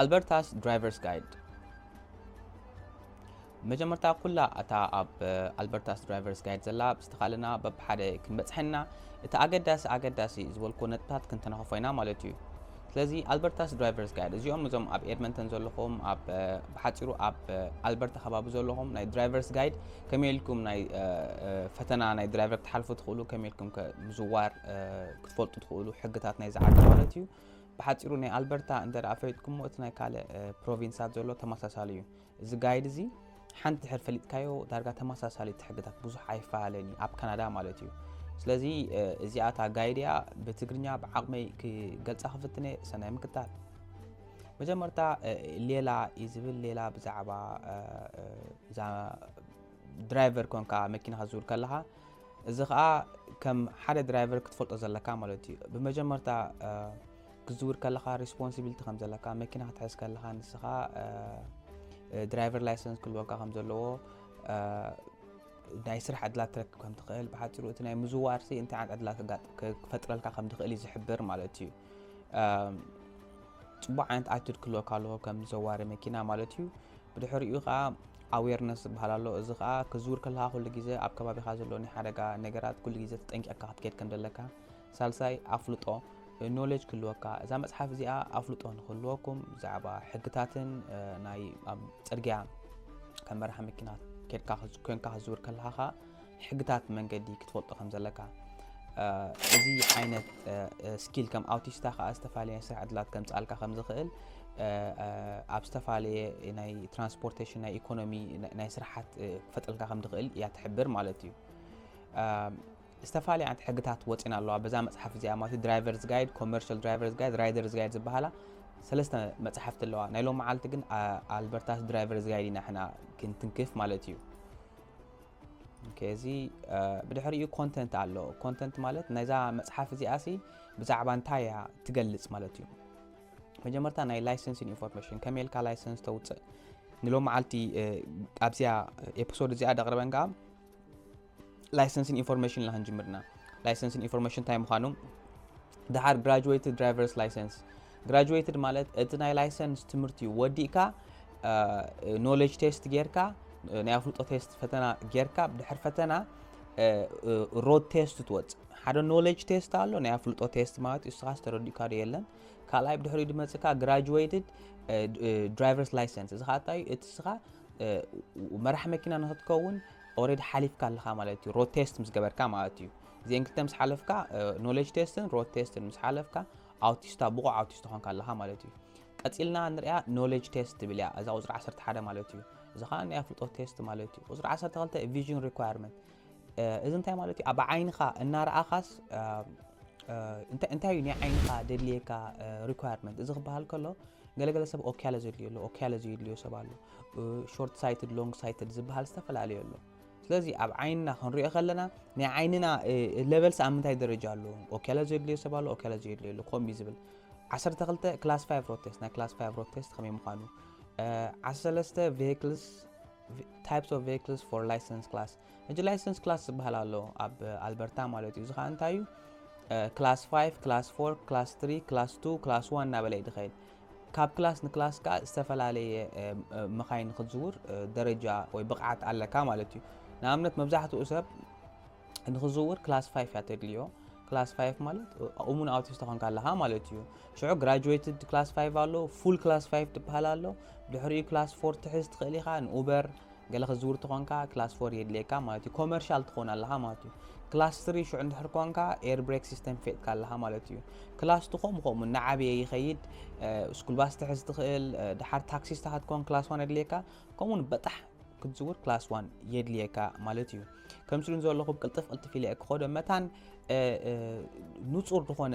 ኣልበርታስ ድራይቨርስ ጋይድ መጀመርታ ኩላ እታ ኣብ ኣልበርታስ ድራይቨርስ ጋይድ ዘላ ብዝተኻእለና በብሓደ ክንበፅሐና እቲ ኣገዳሲ ኣገዳሲ ዝበልኩ ነጥብታት ክንተነኸፎ ኢና ማለት እዩ ስለዚ ኣልበርታስ ድራይቨርስ ጋይድ እዚኦም እዞም ኣብ ኤድመንተን ዘለኹም ኣብ ብሓፂሩ ኣብ ኣልበርታ ከባቢ ዘለኹም ናይ ድራይቨርስ ጋይድ ከመይ ኢልኩም ናይ ፈተና ናይ ድራይቨር ክትሓልፉ ትኽእሉ ከመይ ኢልኩም ምዝዋር ክትፈልጡ ትኽእሉ ሕግታት ናይ ዝዓዲ ማለት እዩ ብሓፂሩ ናይ ኣልበርታ እንተ ፈሊጥኩምዎ እቲ ናይ ካልእ ፕሮቪንሳት ዘሎ ተመሳሳሊ እዩ እዚ ጋይድ እዚ ሓንቲ ድሕር ፈሊጥካዮ ዳርጋ ተመሳሳሊት ሕግታት ብዙሕ ኣይፈላለን እዩ ኣብ ካናዳ ማለት እዩ ስለዚ እዚኣ እታ ጋይድ እያ ብትግርኛ ብዓቕመይ ክገልፃ ክፍትነ ሰናይ ምክታል መጀመርታ ሌላ እዩ ዝብል ሌላ ብዛዕባ እዛ ድራይቨር ኮንካ መኪና ክትዝውር ከለኻ እዚ ከዓ ከም ሓደ ድራይቨር ክትፈልጦ ዘለካ ማለት እዩ ብመጀመርታ ክትዝውር ከለኻ ሪስፖንሲቢሊቲ ከም ዘለካ መኪና ክትሕዝ ከለኻ ንስኻ ድራይቨር ላይሰንስ ክልወካ ከም ዘለዎ ናይ ስራሕ ዕድላት ትረክብ ከም ትኽእል ብሓፂሩ እቲ ናይ ምዝዋር ሲ እንታይ ዓይነት ዕድላት ክፈጥረልካ ከም ትኽእል እዩ ዝሕብር ማለት እዩ ፅቡቅ ዓይነት ኣቲድ ክልወካ ኣለዎ ከም ዘዋሪ መኪና ማለት እዩ ብድሕሪኡ ከዓ ኣዌርነስ ዝበሃል ኣሎ እዚ ከዓ ክዝውር ከለካ ኩሉ ግዜ ኣብ ከባቢካ ዘሎ ናይ ሓደጋ ነገራት ኩሉ ግዜ ተጠንቂቕካ ክትከድ ከም ዘለካ ሳልሳይ፣ ኣፍልጦ፣ Knowledge፣ ክህልወካ። እዛ መጽሓፍ እዚኣ ኣፍልጦ ንኽህልወኩም ብዛዕባ ሕግታትን ናይ ኣብ ጽርግያ ከም መራሒ መኪና ኬድካ ኮንካ ክትዝውር ከለኻ ከኣ ሕግታት መንገዲ ክትፈልጦ ከም ዘለካ እዚ ዓይነት ስኪል ከም ኣውቲስታ ከዓ ዝተፈላለየ ስራሕ ዕድላት ከምፅኣልካ ከም ዝኽእል ኣብ ዝተፈላለየ ናይ ትራንስፖርቴሽን ናይ ኢኮኖሚ ናይ ስራሓት ክፈጥረልካ ከም ዝኽእል እያ ትሕብር ማለት እዩ ዝተፋላለያ ዓይነት ሕግታት ወጺን ኣለዋ በዛ መጽሓፍ እዚኣ ማለት እዩ ድራይቨርስ ጋይድ ኮመርሻል ድራይቨርስ ጋይድ ራይደርስ ጋይድ ዝበሃላ ሰለስተ መጽሓፍቲ ኣለዋ ናይ ሎም መዓልቲ ግን ኣልበርታስ ድራይቨርስ ጋይድ ኢና ሕና ክንትንክፍ ማለት እዩ እዚ ብድሕሪኡ ኮንተንት ኣሎ ኮንተንት ማለት ናይዛ መጽሓፍ እዚኣ ሲ ብዛዕባ እንታይ እያ ትገልጽ ማለት እዩ መጀመርታ ናይ ላይሰንስ ኢንፎርሜሽን ከመይ ኢልካ ላይሰንስ ተውፅእ ንሎም መዓልቲ ኣብዚኣ ኤፒሶድ እዚኣ ደቕርበን ከዓ ላይሰንስን ኢንፎርሜሽን ኢና ክንጅምርና ላይሰንስን ኢንፎርሜሽን እንታይ ምዃኑ ድሓር ግራጁዌትድ ድራይቨርስ ላይሰንስ ግራጁዌትድ ማለት እቲ ናይ ላይሰንስ ትምህርቲ ወዲእካ ኖሌጅ ቴስት ጌርካ ናይ ኣፍልጦ ቴስት ፈተና ጌርካ ብድሕር ፈተና ሮድ ቴስት ትወፅ ሓደ ኖሌጅ ቴስት ኣሎ ናይ ኣፍልጦ ቴስት ማለት እዩ ስኻ ዝተረዲእካ ዶ የለን ካልኣይ ብድሕሪ ድመፅካ ግራጁዌትድ ድራይቨርስ ላይሰንስ እዚ ካታ እዩ እቲ ስኻ መራሕ መኪና ንክትከውን ኦሬዲ ሓሊፍካ ኣለኻ ማለት እዩ ሮድ ቴስት ምስ ገበርካ ማለት እዩ እዚኤን ክልተ ምስ ሓለፍካ ኖሌጅ ቴስትን ሮድ ቴስትን ምስ ሓለፍካ ኣውቲስታ ብቑዕ ኣውቲስታ ኮንካ ኣለኻ ማለት እዩ ቀፂልና ንሪኣ ኖሌጅ ቴስት ትብል እያ እዛ ቁፅሪ 11 ማለት እዩ እዚ ከዓ ናይ ኣፍልጦ ቴስት ማለት እዩ ቁፅሪ 12 ቪዥን ሪኳርመንት እዚ እንታይ ማለት እዩ ኣብ ዓይንኻ እናረኣኻስ እንታይ እዩ ናይ ዓይንኻ ደድልየካ ሪኳርመንት እዚ ክበሃል ከሎ ገለገለ ሰብ ኦክያለ ዘድልዮ ኣሎ ኦክያለ ዘየድልዮ ሰብ ኣሎ ሾርት ሳይትድ ሎንግ ሳይትድ ዝበሃል ዝተፈላለዩ ኣሎ ስለዚ ኣብ ዓይንና ክንሪኦ ከለና ናይ ዓይንና ለበልሲ ኣብ ምንታይ ደረጃ ኣሎ ኦኬላ ዘድልዮ ሰብ ኣሎ ኦኬላ ዘድልዮ ኣሎ ከምኡ ዝብል 12 ክላስ 5 ሮድ ቴስት ናይ ክላስ 5 ሮድ ቴስት ከመይ ምዃኑ 13 ቬክልስ ታይፕስ ኦፍ ቬክልስ ፎር ላይሰንስ ክላስ እጂ ላይሰንስ ክላስ ዝበሃል ኣሎ ኣብ ኣልበርታ ማለት እዩ እዚ ከዓ እንታይ እዩ ክላስ 5 ክላስ 4 ክላስ 3 ክላስ 2 ክላስ 1 እናበለ እዩ ዝኸይድ ካብ ክላስ ንክላስ ከኣ ዝተፈላለየ መኻይን ንክትዝውር ደረጃ ወይ ብቕዓት ኣለካ ማለት እዩ። ንኣብነት መብዛሕትኡ ሰብ ንክዝውር ክላስ ፋይፍ እያ ተድልዮ። ክላስ ፋይፍ ማለት እሙን ኣውቲስታ ኮንካ ኣለኻ ማለት እዩ። ሽዑ ግራጁዌትድ ክላስ ፋይፍ ኣሎ፣ ፉል ክላስ ፋይፍ ትበሃል ኣሎ። ድሕሪኡ ክላስ ፎር ትሕዝ ትኽእል ኢኻ ንኡበር ገለ ክትዝውር ተኾንካ ክላስ ፎር የድልየካ ማለት እዩ ኮመርሻል ትኾን ኣለኻ ማለት እዩ ክላስ ትሪ ሽዑ እንድሕር ኮንካ ኤር ብሬክ ሲስተም ፌጥካ ኣለኻ ማለት እዩ ክላስ ቱ ከምኡ ከምኡ እናዓበየ ይኸይድ ስኩል ባስ ትሕዝ ትኽእል ድሓር ታክሲስታ ክትኮን ክላስ ዋን የድልየካ ከምኡ ውን በጣሕ ክትዝውር ክላስ ዋን የድልየካ ማለት እዩ ከም ስሉ ዘለኹ ቅልጥፍ ቅልጥፍ ኢለ ክኸዶ መታን ንፁር ዝኾነ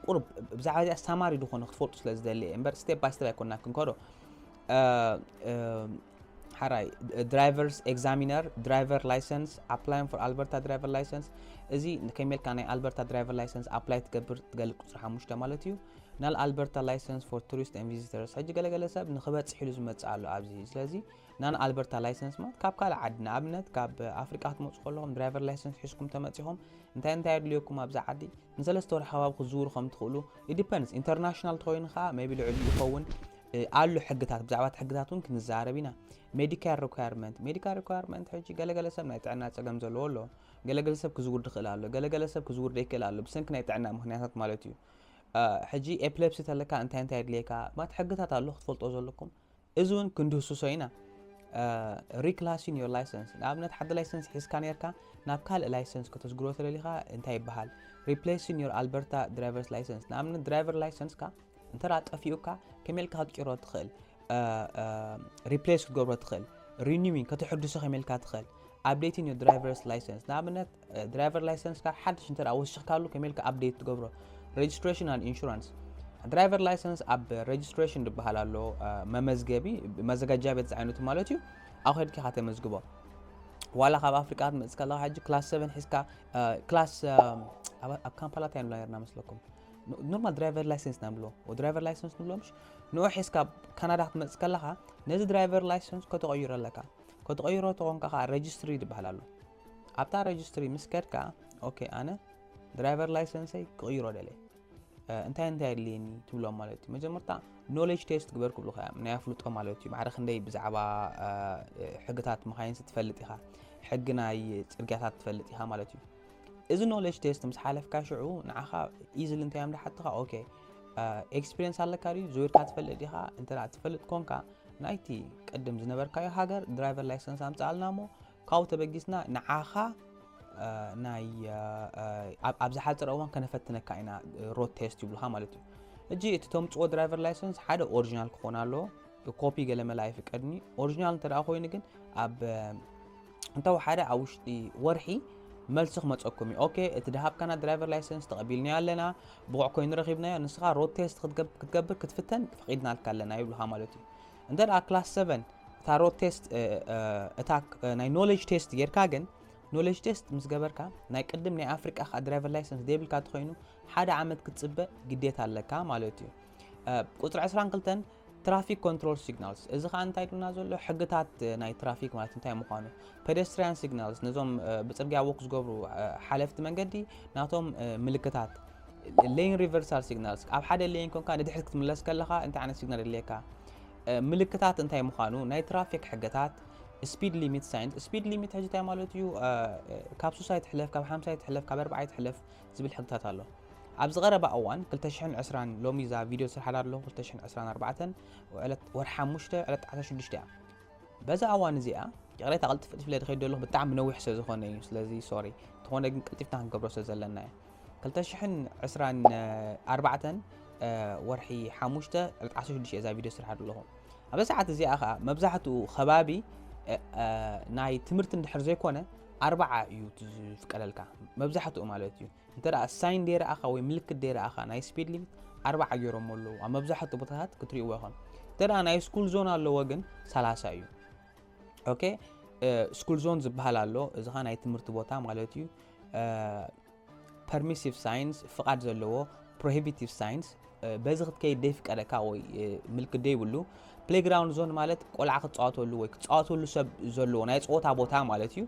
ቁርብ ብዛዕባ እዚኣ ሳማሪ ዝኾነ ክትፈልጡ ስለ ዝደሊ እየ እምበር ስቴፕ ባይ ስቴፕ ኣይኮና ክንከዶ ሓራይ ድራይቨርስ ኤግዛሚነር ድራይቨር ላይሰንስ ኣፕላይን ፎር ኣልበርታ ድራይቨር ላይሰንስ እዚ ከመልካ ናይ ኣልበርታ ድራይቨር ላይሰንስ ኣፕላይ ትገብር ትገልፅ ቁፅሪ ሓሙሽተ ማለት እዩ ናል ኣልበርታ ላይሰንስ ፎር ቱሪስት ን ቪዚተርስ ሕጂ ገለገለ ሰብ ንክበፅሕ ኢሉ ዝመፅእ ኣሎ ኣብዚ ስለዚ ናን ኣልበርታ ላይሰንስ ማለት ካብ ካልእ ዓዲ ንኣብነት ካብ ኣፍሪቃ ክትመፁ ከለኹም ድራይቨር ላይሰንስ ሒዝኩም ተመፂኹም እንታይ እንታይ ኣድልየኩም ኣብዚ ዓዲ ንሰለስተ ወርሓዊ ኣብ ክትዝውሩ ከም ትኽእሉ it depends ኢንተርናሽናል እንተኾይኑ ከዓ ሜቢ ልዕሊኡ ይኸውን እ፣ ኣሎ ሕግታት ብዛዕባ እቲ ሕግታት እውን ክንዛረብ ኢና ሜዲካል ሪኳየርመንት ሜዲካል ሪኳየርመንት ሕጂ ገለገለ ሰብ ናይ ጥዕና ፀገም ዘለዎ ኣሎ ገለገለ ሰብ ክዝውር ድኽእል ኣሎ ገለገለ ሰብ ክዝውር ደይክእል ኣሎ ብሰንኪ ናይ ጥዕና ምክንያታት ማለት እዩ አ፣ ሕጂ ኤፕለፕሲ ተለካ እንታይ እንታይ የድልየካ ማለት ሕግታት ኣሎ ክትፈልጦ ዘለኩም እዚ እውን ክንድህስሶ ኢና ሪክላሲን ዮር ላይሰንስ ንኣብነት ሓደ ላይሰንስ ሒዝካ ነርካ ናብ ካልእ ላይሰንስ ከተስግሮ ተደሊኻ እንታይ ይበሃል ሪፕሌሲን ዮር ኣልበርታ ድራይቨርስ ላይሰንስ ንኣብነት ድራይቨር ላይሰንስካ እንተ ጠፊኡካ ከመልካ ክትጭሮ ትኽእል ሪፕሌስ ክትገብሮ ትኽእል ሪኒዊን ከተሕድሶ ከመልካ ትኽእል ኣብዴቲን ዮር ድራይቨርስ ላይሰንስ ንኣብነት ድራይቨር ላይሰንስካ ሓድሽ እንተ ወሲኽካሉ ከመይ ኢልካ ኣብዴት ትገብሮ ሬጅስትሬሽን ኣንድ ኢንሹራንስ ድራይቨር ላይሰንስ ኣብ ሬጅስትሬሽን ዝበሃል ኣሎ መመዝገቢ መዘጋጃ ቤት ዝዓይነቱ ማለት እዩ ኣብ ከድኪ ኢኻ ተመዝግቦ ዋላ ካብ ኣፍሪቃ ክትመፅእ ከለካ ሕጂ ክላስ ሰቨን ሒዝካ ክላስ ኣብ ካምፓላ እንታይ ንብላ ነርና መስለኩም ኖርማል ድራይቨር ላይሰንስ ኢና ንብሎ ድራይቨር ላይሰንስ ንብሎ ምሽ ንኡ ሒዝካ ካናዳ ክትመፅእ ከለካ ነዚ ድራይቨር ላይሰንስ ከተቐይሮ ኣለካ ከተቐይሮ ተኾንካ ከዓ ሬጅስትሪ ዝበሃል ኣሎ ኣብታ ረጅስትሪ ምስ ከድካ ኦኬ ኣነ ድራይቨር ላይሰንሰይ ክቕይሮ ደለ እንታይ እንታይ ኣድልየኒ ትብሎም ማለት እዩ መጀመርታ ኖሌጅ ቴስት ግበር ክብሉካ እዮም ናይ ኣፍልጦ ማለት እዩ ማዕረ ክንደይ ብዛዕባ ሕግታት መኻይንሲ ትፈልጥ ኢኻ ሕጊ ናይ ፅርግያታት ትፈልጥ ኢኻ ማለት እዩ እዚ ኖሌጅ ቴስት ምስ ሓለፍካ ሽዑ ንዓኻ ኢዝሊ እንታይ እዮም ዝሓትኻ ኦኬ ኤክስፒሪየንስ ኣለካ ድዩ ዝውርካ ትፈልጥ ኢኻ እንተ ትፈልጥ ኮንካ ናይቲ ቅድም ዝነበርካዮ ሃገር ድራይቨር ላይሰንስ ኣምፅኣልና እሞ ካብኡ ተበጊስና ንዓኻ ናይ ኣብ ዝሓፀረ እዋን ከነፈትነካ ኢና ሮድ ቴስት ይብሉካ ማለት እዩ እጂ እቲ ተምፅኦ ድራይቨር ላይሰንስ ሓደ ኦሪጂናል ክኾን ኣለዎ ኮፒ ገለመላ ኣይፍቀድኒ ኦሪጂናል እንተ ኮይኑ ግን ኣብ እንተወሓደ ኣብ ውሽጢ ወርሒ መልሲ ክመፀኩም እዩ ኦኬ እቲ ድሃብካና ድራይቨር ላይሰንስ ተቐቢልናዮ ኣለና ብቑዕ ኮይኑ ረኺብናዮ ንስኻ ሮድ ቴስት ክትገብር ክትፍተን ፈቒድናልካ ኣለና ይብልካ ማለት እዩ እንተ ክላስ ሰቨን እታ ሮት ቴስት እታ ናይ ኖሌጅ ቴስት ጌርካ ግን ኖሌጅ ቴስት ምስ ገበርካ ናይ ቅድም ናይ ኣፍሪቃ ከዓ ድራይቨር ላይሰንስ ደይብልካ ተኮይኑ ሓደ ዓመት ክትፅበ ግዴታ ኣለካ ማለት እዩ ቁፅሪ 22 ትራፊክ ኮንትሮል ሲግናልስ እዚ ከዓ እንታይ ኢሉና ዘሎ ሕግታት ናይ ትራፊክ ማለት እንታይ ምዃኑ ፔደስትሪያን ሲግናልስ ነዞም ብፅርግያ ወክ ዝገብሩ ሓለፍቲ መንገዲ ናቶም ምልክታት Lane Reversal Signals፣ ኣብ ሓደ ሌን ኮንካ ንድሕሪት ክትምለስ ከለኻ እንታይ ዓይነት ሲግናል የድልየካ? ምልክታት እንታይ ምዃኑ፣ ናይ ትራፊክ ሕግታት፣ ስፒድ ሊሚት ሳይንስ፣ ስፒድ ሊሚት ሕጂ እንታይ ማለት እዩ? ካብ ሱሳ ይትሕለፍ፣ ካብ ሓምሳ ይትሕለፍ፣ ካብ ኣርብዓ ይትሕለፍ ዝብል ሕግታት ኣሎ። ኣብዚ ቀረባ እዋን 2020 ሎሚ እዛ ቪድዮ ዝስርሓላ ኣለኹ 2024 ዕለት ወርሒ ሓሙሽተ ዕለት ዓሰርተ ሽዱሽተ እያ። በዛ ኣዋን እዚኣ ይቕሬታ ቅልጥፍ ቅልጥፍ ኢለ ድኸይድ ዘለኹ ብጣዕሚ ነዊሕ ስለ ዝኾነ እዩ ስለዚ ሶሪ እንተኾነ ግን ቅልጢፍና ክንገብሮ ስለ ዘለና እዩ 224 ወርሒ ሓሙሽተ ዕለት 16 እየ እዛ ቪድዮ ስራሕ ኣለኹ ኣብ ሰዓት እዚኣ ከዓ መብዛሕትኡ ከባቢ ናይ ትምህርቲ እንድሕር ዘይኮነ ኣርባዓ እዩ ዝፍቀደልካ መብዛሕትኡ ማለት እዩ እንተ ሳይን ደይረኣኻ ወይ ምልክት ደይረኣኻ ናይ ስፒድ ሊሚት ኣርባዓ ገይሮሞ ኣለዉ ኣብ መብዛሕትኡ ቦታታት ክትሪእዎ ኢኹም እንተ ናይ ስኩል ዞን ኣለዎ ግን ሰላሳ እዩ ኦኬ ስኩል ዞን ዝበሃል ኣሎ እዚ ኸ ናይ ትምህርቲ ቦታ ማለት እዩ ፐርሚሲቭ ሳይንስ ፍቓድ ዘለዎ ፕሮሂቢቲቭ ሳይንስ በዚ ክትከይድ ደይፍቀደካ ወይ ምልክት ደይብሉ ፕሌግራውንድ ዞን ማለት ቆልዓ ክፃወተሉ ወይ ክፃወተሉ ሰብ ዘለዎ ናይ ፀወታ ቦታ ማለት እዩ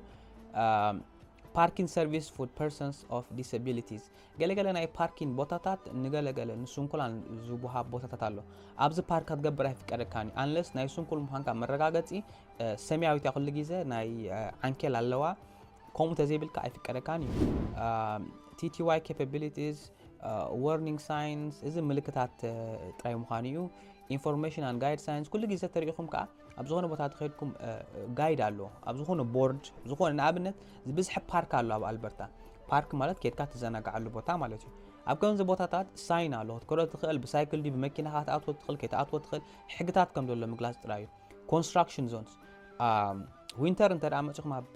ፓርኪን ሰርቪስ ፉድ ፐርሰንስ ኦፍ ዲሰቢሊቲስ ገለ ገለ ናይ ፓርኪን ቦታታት ንገለ ገለ ንስንኩላን ዝወሃብ ቦታታት ኣሎ ኣብዚ ፓርክ ክትገብር ኣይፍቀደካን እዩ ኣንለስ ናይ ስንኩል ምዃንካ መረጋገፂ ሰማያዊት እያ ኩሉ ግዜ ናይ ዓንኬል ኣለዋ ከምኡ ተዘይብልካ ኣይፍቀደካን እዩ ቲቲዋይ ኬፓቢሊቲስ ወርኒንግ ሳይንስ እዚ ምልክታት ጥራይ ምዃኑ እዩ ኢንፎርሜሽን ኣን ጋይድ ሳይንስ ኩሉ ግዜ ተሪኢኹም ከዓ ኣብ ዝኾነ ቦታ ተኸድኩም ጋይድ ኣሎ ኣብ ዝኾነ ቦርድ ዝኾነ ንኣብነት ዝበዝሐ ፓርክ ኣሎ ኣብ ኣልበርታ ፓርክ ማለት ኬድካ ትዘናግዓሉ ቦታ ማለት እዩ ኣብ ከምዚ ቦታታት ሳይን ኣሎ ክትከዶ ትኽእል ብሳይክል ድዩ ብመኪናኻ ክትኣትዎ ትኽእል ከይትኣትዎ ትኽእል ሕግታት ከም ዘሎ ምግላፅ ጥራይ እዩ ኮንስትራክሽን ዞንስ ዊንተር እንተ መፅኹም ኣብ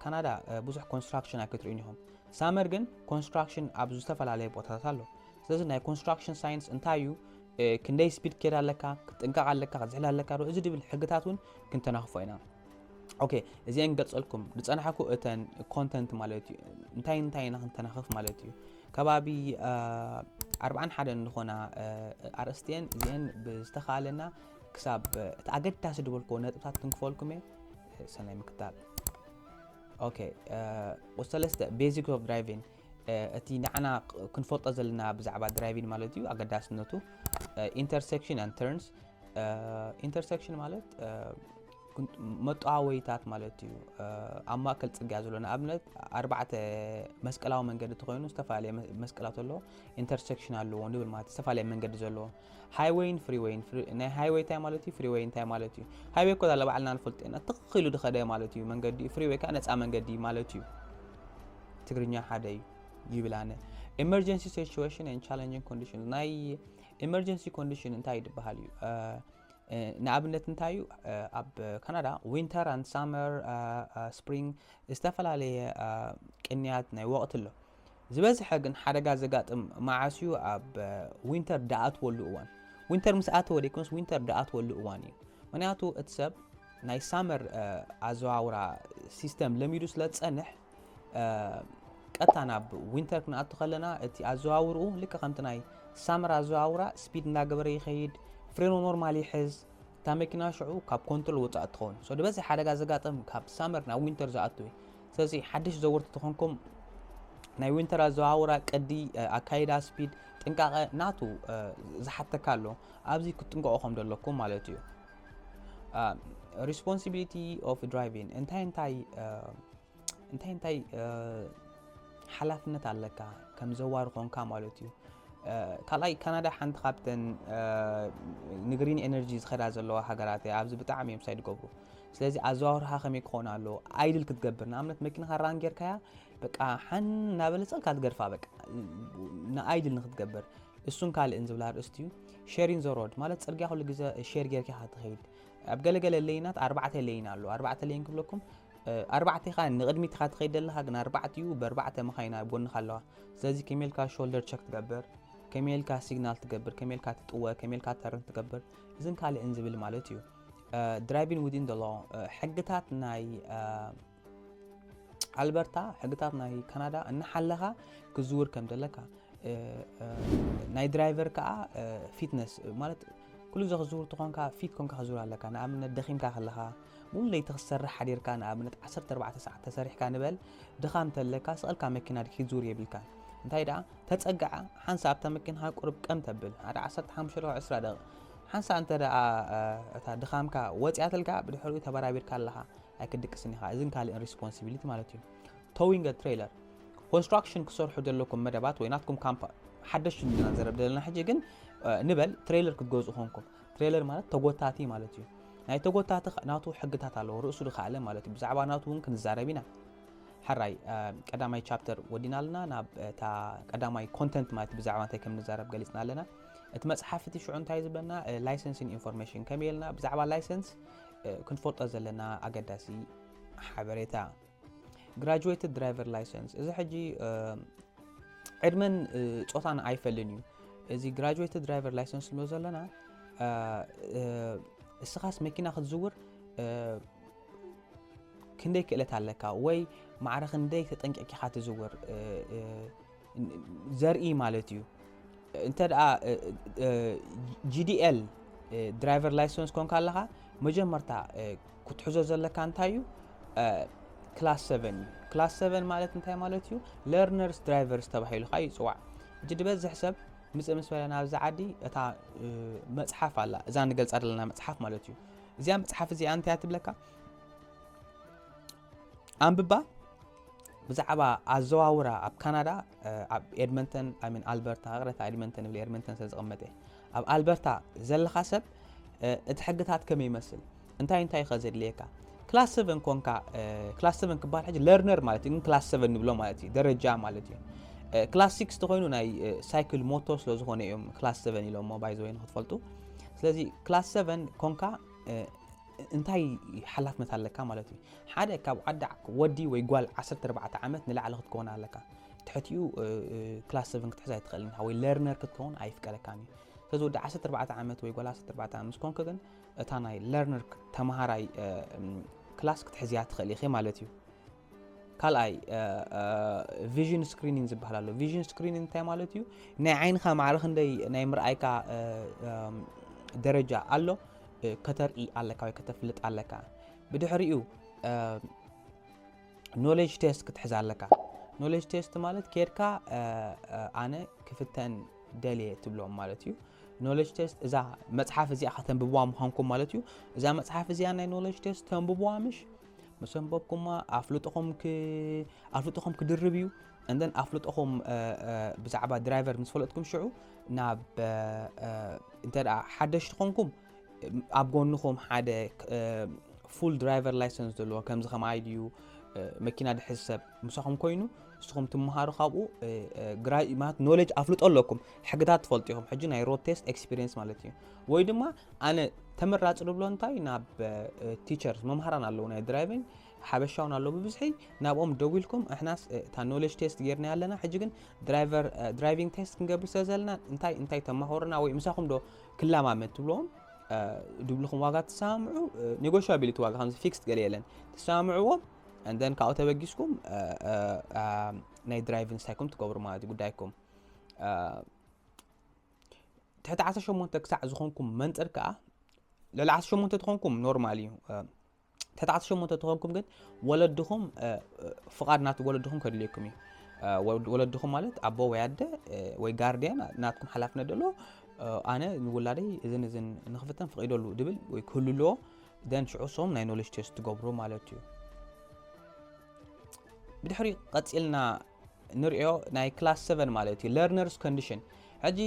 ካናዳ ብዙሕ ኮንስትራክሽን ኣይክትርእዩን ኢኹም ሳመር ግን ኮንስትራክሽን ኣብ ዝተፈላለየ ቦታታት ኣሎ ስለዚ ናይ ኮንስትራክሽን ሳይንስ እንታይ እዩ ክንደይ ስፒድ ክከድ ኣለካ ክትጥንቀቕ ኣለካ ክትዝሕል ኣለካ ዶ እዚ ድብል ሕግታት እውን ክንተናኽፎ ኢና ኦኬ እዚአን ገልጸልኩም ዝጸናሕኩ እተን ኮንተንት ማለት እዩ እንታይ እንታይ ኢና ክንተናኽፍ ማለት እዩ ከባቢ ኣርባዓን ሓደን ዝኾና ኣርእስትየን እዚአን ብዝተኻለና ክሳብ እቲ ኣገዳሲ ዝበልክዎ ነጥብታት ክንክፈልኩም እየ ሰናይ ምክታል ኦኬ ቁሰለስተ ቤዚክ ኦፍ ድራይቪንግ እቲ ንዓና ክንፈልጦ ዘለና ብዛዕባ ድራይቪን ማለት እዩ ኣገዳስነቱ ኢንተርሴክሽን ኣን ተርንስ ኢንተርሴክሽን ማለት መጠዋወይታት ማለት እዩ ኣብ ማእከል ፅርግያ ዘሎ ንኣብነት ኣርባዕተ መስቀላዊ መንገዲ ተኮይኑ ዝተፈላለየ መስቀላት ኣለዎ ኢንተርሴክሽን ኣለዎ ንብል ማለት ዝተፈላለዩ መንገዲ ዘለዎ ሃይወይን ፍሪወይን ናይ ሃይወይ እንታይ ማለት እዩ ፍሪወይ እንታይ ማለት እዩ ሃይወይ እኮ ዛለ ባዕልና ንፈልጦ ኢና ትኽ ኢሉ ድኸደ ማለት እዩ መንገዲ እዩ ፍሪወይ ከዓ ነፃ መንገዲ ማለት እዩ ትግርኛ ሓደ እዩ ይብል ኣነ ኤመርጀንሲ ሲቹዌሽን ን ቻለንጅን ኮንዲሽን ናይ ኤመርጀንሲ ኮንዲሽን እንታይ እዩ ዝበሃል እዩ ንኣብነት እንታይ እዩ ኣብ ካናዳ ዊንተር ኣን ሳመር ስፕሪንግ ዝተፈላለየ ቅንያት ናይ ወቕቲ ኣሎ ዝበዝሐ ግን ሓደጋ ዘጋጥም መዓስ እዩ ኣብ ዊንተር ድኣትወሉ እዋን ዊንተር ምስ ኣተወ ደይኮንስ ዊንተር ድኣትወሉ እዋን እዩ ምክንያቱ እቲ ሰብ ናይ ሳመር ኣዘዋውራ ሲስተም ለሚዱ ስለ ዝፀንሕ ቀጥታ ናብ ዊንተር ክንኣቱ ከለና እቲ ኣዘዋውርኡ ልክ ከምቲ ናይ ሳመር ኣዘዋውራ ስፒድ እንዳገበረ ይኸይድ ፍሬኖ ኖርማል ይሕዝ እታ መኪና ሽዑ ካብ ኮንትሮል ወፃእ ትኸውን ሶ ዝበዝሕ ሓደጋ ዘጋጥም ካብ ሳመር ናብ ዊንተር ዝኣቱ እዩ ሰሲ ሓድሽ ዘወርቲ ተኾንኩም ናይ ዊንተር ኣዘዋውራ ቅዲ ኣካይዳ ስፒድ ጥንቃቐ ናቱ ዝሓተካ ኣሎ ኣብዚ ክትጥንቀቑ ከም ዘለኩም ማለት እዩ ሪስፖንሲቢሊቲ ኦፍ ድራይቪን እንታይ እንታይ እንታይ እንታይ ሓላፍነት ኣለካ ከም ዘዋሪ ኮንካ ማለት እዩ ካልኣይ ካናዳ ሓንቲ ካብተን ንግሪን ኤነርጂ ዝኸዳ ዘለዋ ሃገራት እያ ኣብዚ ብጣዕሚ እዮም ሳይ ዝገብሩ ስለዚ ኣዘዋውራኻ ከመይ ክኾን ኣለዎ ኣይድል ክትገብር ንኣብነት መኪናኻ ራን ጌርካያ በቃ ሓን እናበለ ፀልካ ትገድፋ በቃ ንኣይድል ንክትገብር እሱን ካልእን ዝብላ ርእስቲ እዩ ሸሪን ዘሮድ ማለት ፅርግያ ኩሉ ግዜ ሸር ጌርካ ክትኸይድ ኣብ ገለገለ ለይናት ኣርባዕተ ለይን ኣለዎ ኣርባዕተ ለይን ክብለኩም ኣርባዕተ ኢኻ ንቕድሚት ኢኻ ትኸይድ ዘለኻ ግን ኣርባዕተ እዩ ብኣርባዕተ መኻይና ኣብ ጎንኻ ኣለዋ ስለዚ ከመይ ኢልካ ሾልደር ቸክ ትገብር ከመይ ኢልካ ሲግናል ትገብር ከመይ ኢልካ ትጥወ ከመይ ኢልካ ተርን ትገብር እዝን ካልእን ዝብል ማለት እዩ ድራይቪን ዊዝን ዘሎ ሕግታት ናይ ኣልበርታ ሕግታት ናይ ካናዳ እናሓለኻ ክዝውር ከም ዘለካ ናይ ድራይቨር ከዓ ፊትነስ ማለት ኩሉ ግዜ ክዝውር ትኾንካ ፊት ኮንካ ክዝውር ኣለካ ንኣብነት ደኺምካ ከለኻ ሙሉ ለይቲ ክትሰርሕ ሓዲርካ ንኣብነት 14 ሰዓት ተሰሪሕካ ንበል ድኻም እንተለካ ስቐልካ መኪና ድኪ ክትዝውር የብልካ እንታይ ደኣ ተፀግዓ ሓንሳ ኣብታ መኪና ቁርብ ቀም ተብል ሓደ 15 20 ደቂ ሓንሳእ እንተ ደኣ እታ ድኻምካ ወጺኣትልካ፣ ብድሕሪኡ ተበራቢርካ ኣለኻ ኣይክትድቅስን ኢኻ። እዝን ካልእን ሪስፖንሲቢሊቲ ማለት እዩ። Towing a Trailer፣ ኮንስትራክሽን ክትሰርሑ ዘለኩም መደባት ወይ ናትኩም ካምፓ ሓደሽቲ ንድና ዘረብ ዘለና ሕጂ ግን ንበል ትሬለር ክትገዝኡ ኮንኩም ትሬለር ማለት ተጎታቲ ማለት እዩ ናይ ተጎታቲ ናቱ ሕግታት ኣለዎ ርእሱ ድካኣለ ማለት እዩ ብዛዕባ ናቱ እውን ክንዛረብ ኢና ሕራይ ቀዳማይ ቻፕተር ወዲና ኣለና ናብ እታ ቀዳማይ ኮንተንት ማለት ብዛዕባ እንታይ ከም ንዛረብ ገሊፅና ኣለና እቲ መጽሓፍ እቲ ሽዑ እንታይ ዝበና ላይሰንስን ኢንፎርሜሽን ከመይ ኢልና ብዛዕባ ላይሰንስ ክንፈልጦ ዘለና ኣገዳሲ ሓበሬታ ግራጁዌትድ ድራይቨር ላይሰንስ እዚ ሕጂ ዕድመን ፆታን ኣይፈልን እዩ እዚ ግራጁዌትድ ድራይቨር ላይሰንስ ንብሎ ዘለና እስኻስ መኪና ክትዝውር ክንደይ ክእለት ኣለካ ወይ ማዕረ ክንደይ ተጠንቂቕካ ትዝውር ዘርኢ ማለት እዩ እንተ ጂዲኤል ድራይቨር ላይሰንስ ኮንካ ኣለኻ መጀመርታ ክትሕዞ ዘለካ እንታይ እዩ ክላስ 7 እዩ ክላስ 7 ማለት እንታይ ማለት እዩ ለርነርስ ድራይቨርስ ተባሂሉ ከዓ ይፅዋዕ እጅ ድበዝሕ ሰብ ምፅእ ምስ በለና ኣብዚ ዓዲ እታ መፅሓፍ ኣላ እዛ ንገልፃ ዘለና መፅሓፍ ማለት እዩ እዚኣ መፅሓፍ እዚኣ እንታይ ትብለካ ኣንብባ ብዛዕባ ኣዘዋውራ ኣብ ካናዳ ኣብ ኤድመንተን ሚን ኣልበርታ ቅረታ ኤድመንተን ይብል ኤድመንተን ስለ ዝቕመጠ ኣብ ኣልበርታ ዘለኻ ሰብ እቲ ሕግታት ከመይ ይመስል እንታይ እንታይ ከ ዘድልየካ ክላስ ሰቨን ኮንካ ክላስ ሰቨን ክበሃል ሕጂ ለርነር ማለት እዩ ግን ክላስ ሰቨን ንብሎ ማለት እዩ ደረጃ ማለት እዩ ክላስ ሲክስ ተኮይኑ ናይ ሳይክል ሞቶ ስለ ዝኾነ እዮም ክላስ ሰቨን ኢሎሞ ባይዘወይ ንክትፈልጡ ስለዚ ክላስ ሰቨን ኮንካ እንታይ ሓላፍነት ኣለካ ማለት እዩ ሓደ ካብ ዓዲ ወዲ ወይ ጓል 14 ዓመት ንላዕሊ ክትከውን ኣለካ ትሕቲኡ ክላስ 7 ክትሕዝ ኣይትኽእልን ኢኻ ወይ ለርነር ክትከውን ኣይፍቀደካን እዩ ስለዚ ወዲ 14 ዓመት ወይ ጓል 14 ዓመት ምስ ኮንክ ግን እታ ናይ ለርነር ተምሃራይ ክላስ ክትሕዝያ ትኽእል ኢኺ ማለት እዩ ካልኣይ ቪዥን ስክሪኒንግ ዝበሃል ኣሎ ቪዥን ስክሪኒንግ እንታይ ማለት እዩ ናይ ዓይንኻ ማዕረ ክንደይ ናይ ምርኣይካ ደረጃ ኣሎ ከተርኢ ኣለካ ወይ ከተፍልጥ ኣለካ ብድሕሪኡ ኖሌጅ ቴስት ክትሕዝ ኣለካ ኖሌጅ ቴስት ማለት ኬድካ ኣነ ክፍተን ደልየ ትብሎም ማለት እዩ ኖሌጅ ቴስት እዛ መፅሓፍ እዚኣ ከተንብብዋ ምዃንኩም ማለት እዩ እዛ መፅሓፍ እዚኣ ናይ ኖሌጅ ቴስት ተንብብዋ ምሽ ምስ ኣንበብኩማ ኣፍልጦኹም ክ- ኣፍልጦኹም ክድርብ እዩ እንደን ኣፍልጦኹም እ፣ እ፣ ብዛዕባ ድራይቨር ምስ ፈለጥኩም ሽዑ ናብ እ፣ እ፣ እንተ ደኣ ሓደሽቲ ኾንኩም እ፣ ኣብ ጎንኹም ሓደ ፉል ድራይቨር ላይሰንስ ዘለዎ ከምዚ ከም ኣይዲ እዩ እ፣ መኪና ድሕዝ ሰብ ምሳኹም ኮይኑ ንስኹም ትምሃሩ ካብኡ እ፣ እ፣ ግራይ ማለት ኖሌጅ ኣፍልጦ ኣለኩም ሕግታት ትፈልጡ ኢኹም ሕጂ ናይ ሮድ ቴስት ኤክስፒሪየንስ ማለት እዩ ወይ ድማ ኣነ ተመራጺ ዝብሎ እንታይ ናብ ቲቸርስ መምሃራን ኣለዉ ናይ ድራይቪንግ ሓበሻውን ኣለዉ ብብዝሒ ናብኦም ደዊልኩም እሕናስ እታ ኖሌጅ ቴስት ጌርና ኣለና ሕጂ ግን ድራይቪንግ ቴስት ክንገብር ስለ ዘለና እንታይ እንታይ ተማሃሩና ወይ ምሳኹም ዶ ክላማመድ ትብልዎም ድብልኹም ዋጋ ትሰማምዑ ኔጎሽያቢሊቲ ዋጋ ከምዚ ፊክስድ ገለ የለን ትሰማምዕዎም እንደን ካብኡ ተበጊስኩም ናይ ድራይቪንግ ሳይኩም ትገብሩ ማለት እዩ ጉዳይኩም ትሕቲ 18 ክሳዕ ዝኾንኩም መንፅር ከዓ ልዕሊ 18 ተኾንኩም ኖርማል እዩ ትሕቲ 18 ተኾንኩም ግን ወለድኹም ፍቓድ ናት ወለድኹም ከድልየኩም እዩ ወለድኹም ማለት ኣቦ ወይ ኣደ ወይ ጋርድያን ናትኩም ሓላፍነት ደሎ ኣነ ንውላደይ እዝን እዝን ንክፍተን ፍቒደሉ ድብል ወይ ክህሉ ኣለዎ ደን ሽዑ ሶም ናይ ኖሌጅ ቴስት ትገብሩ ማለት እዩ ብድሕሪ ቀፂልና ንሪኦ ናይ ክላስ ሰቨን ማለት እዩ ለርነርስ ኮንዲሽን ሕጂ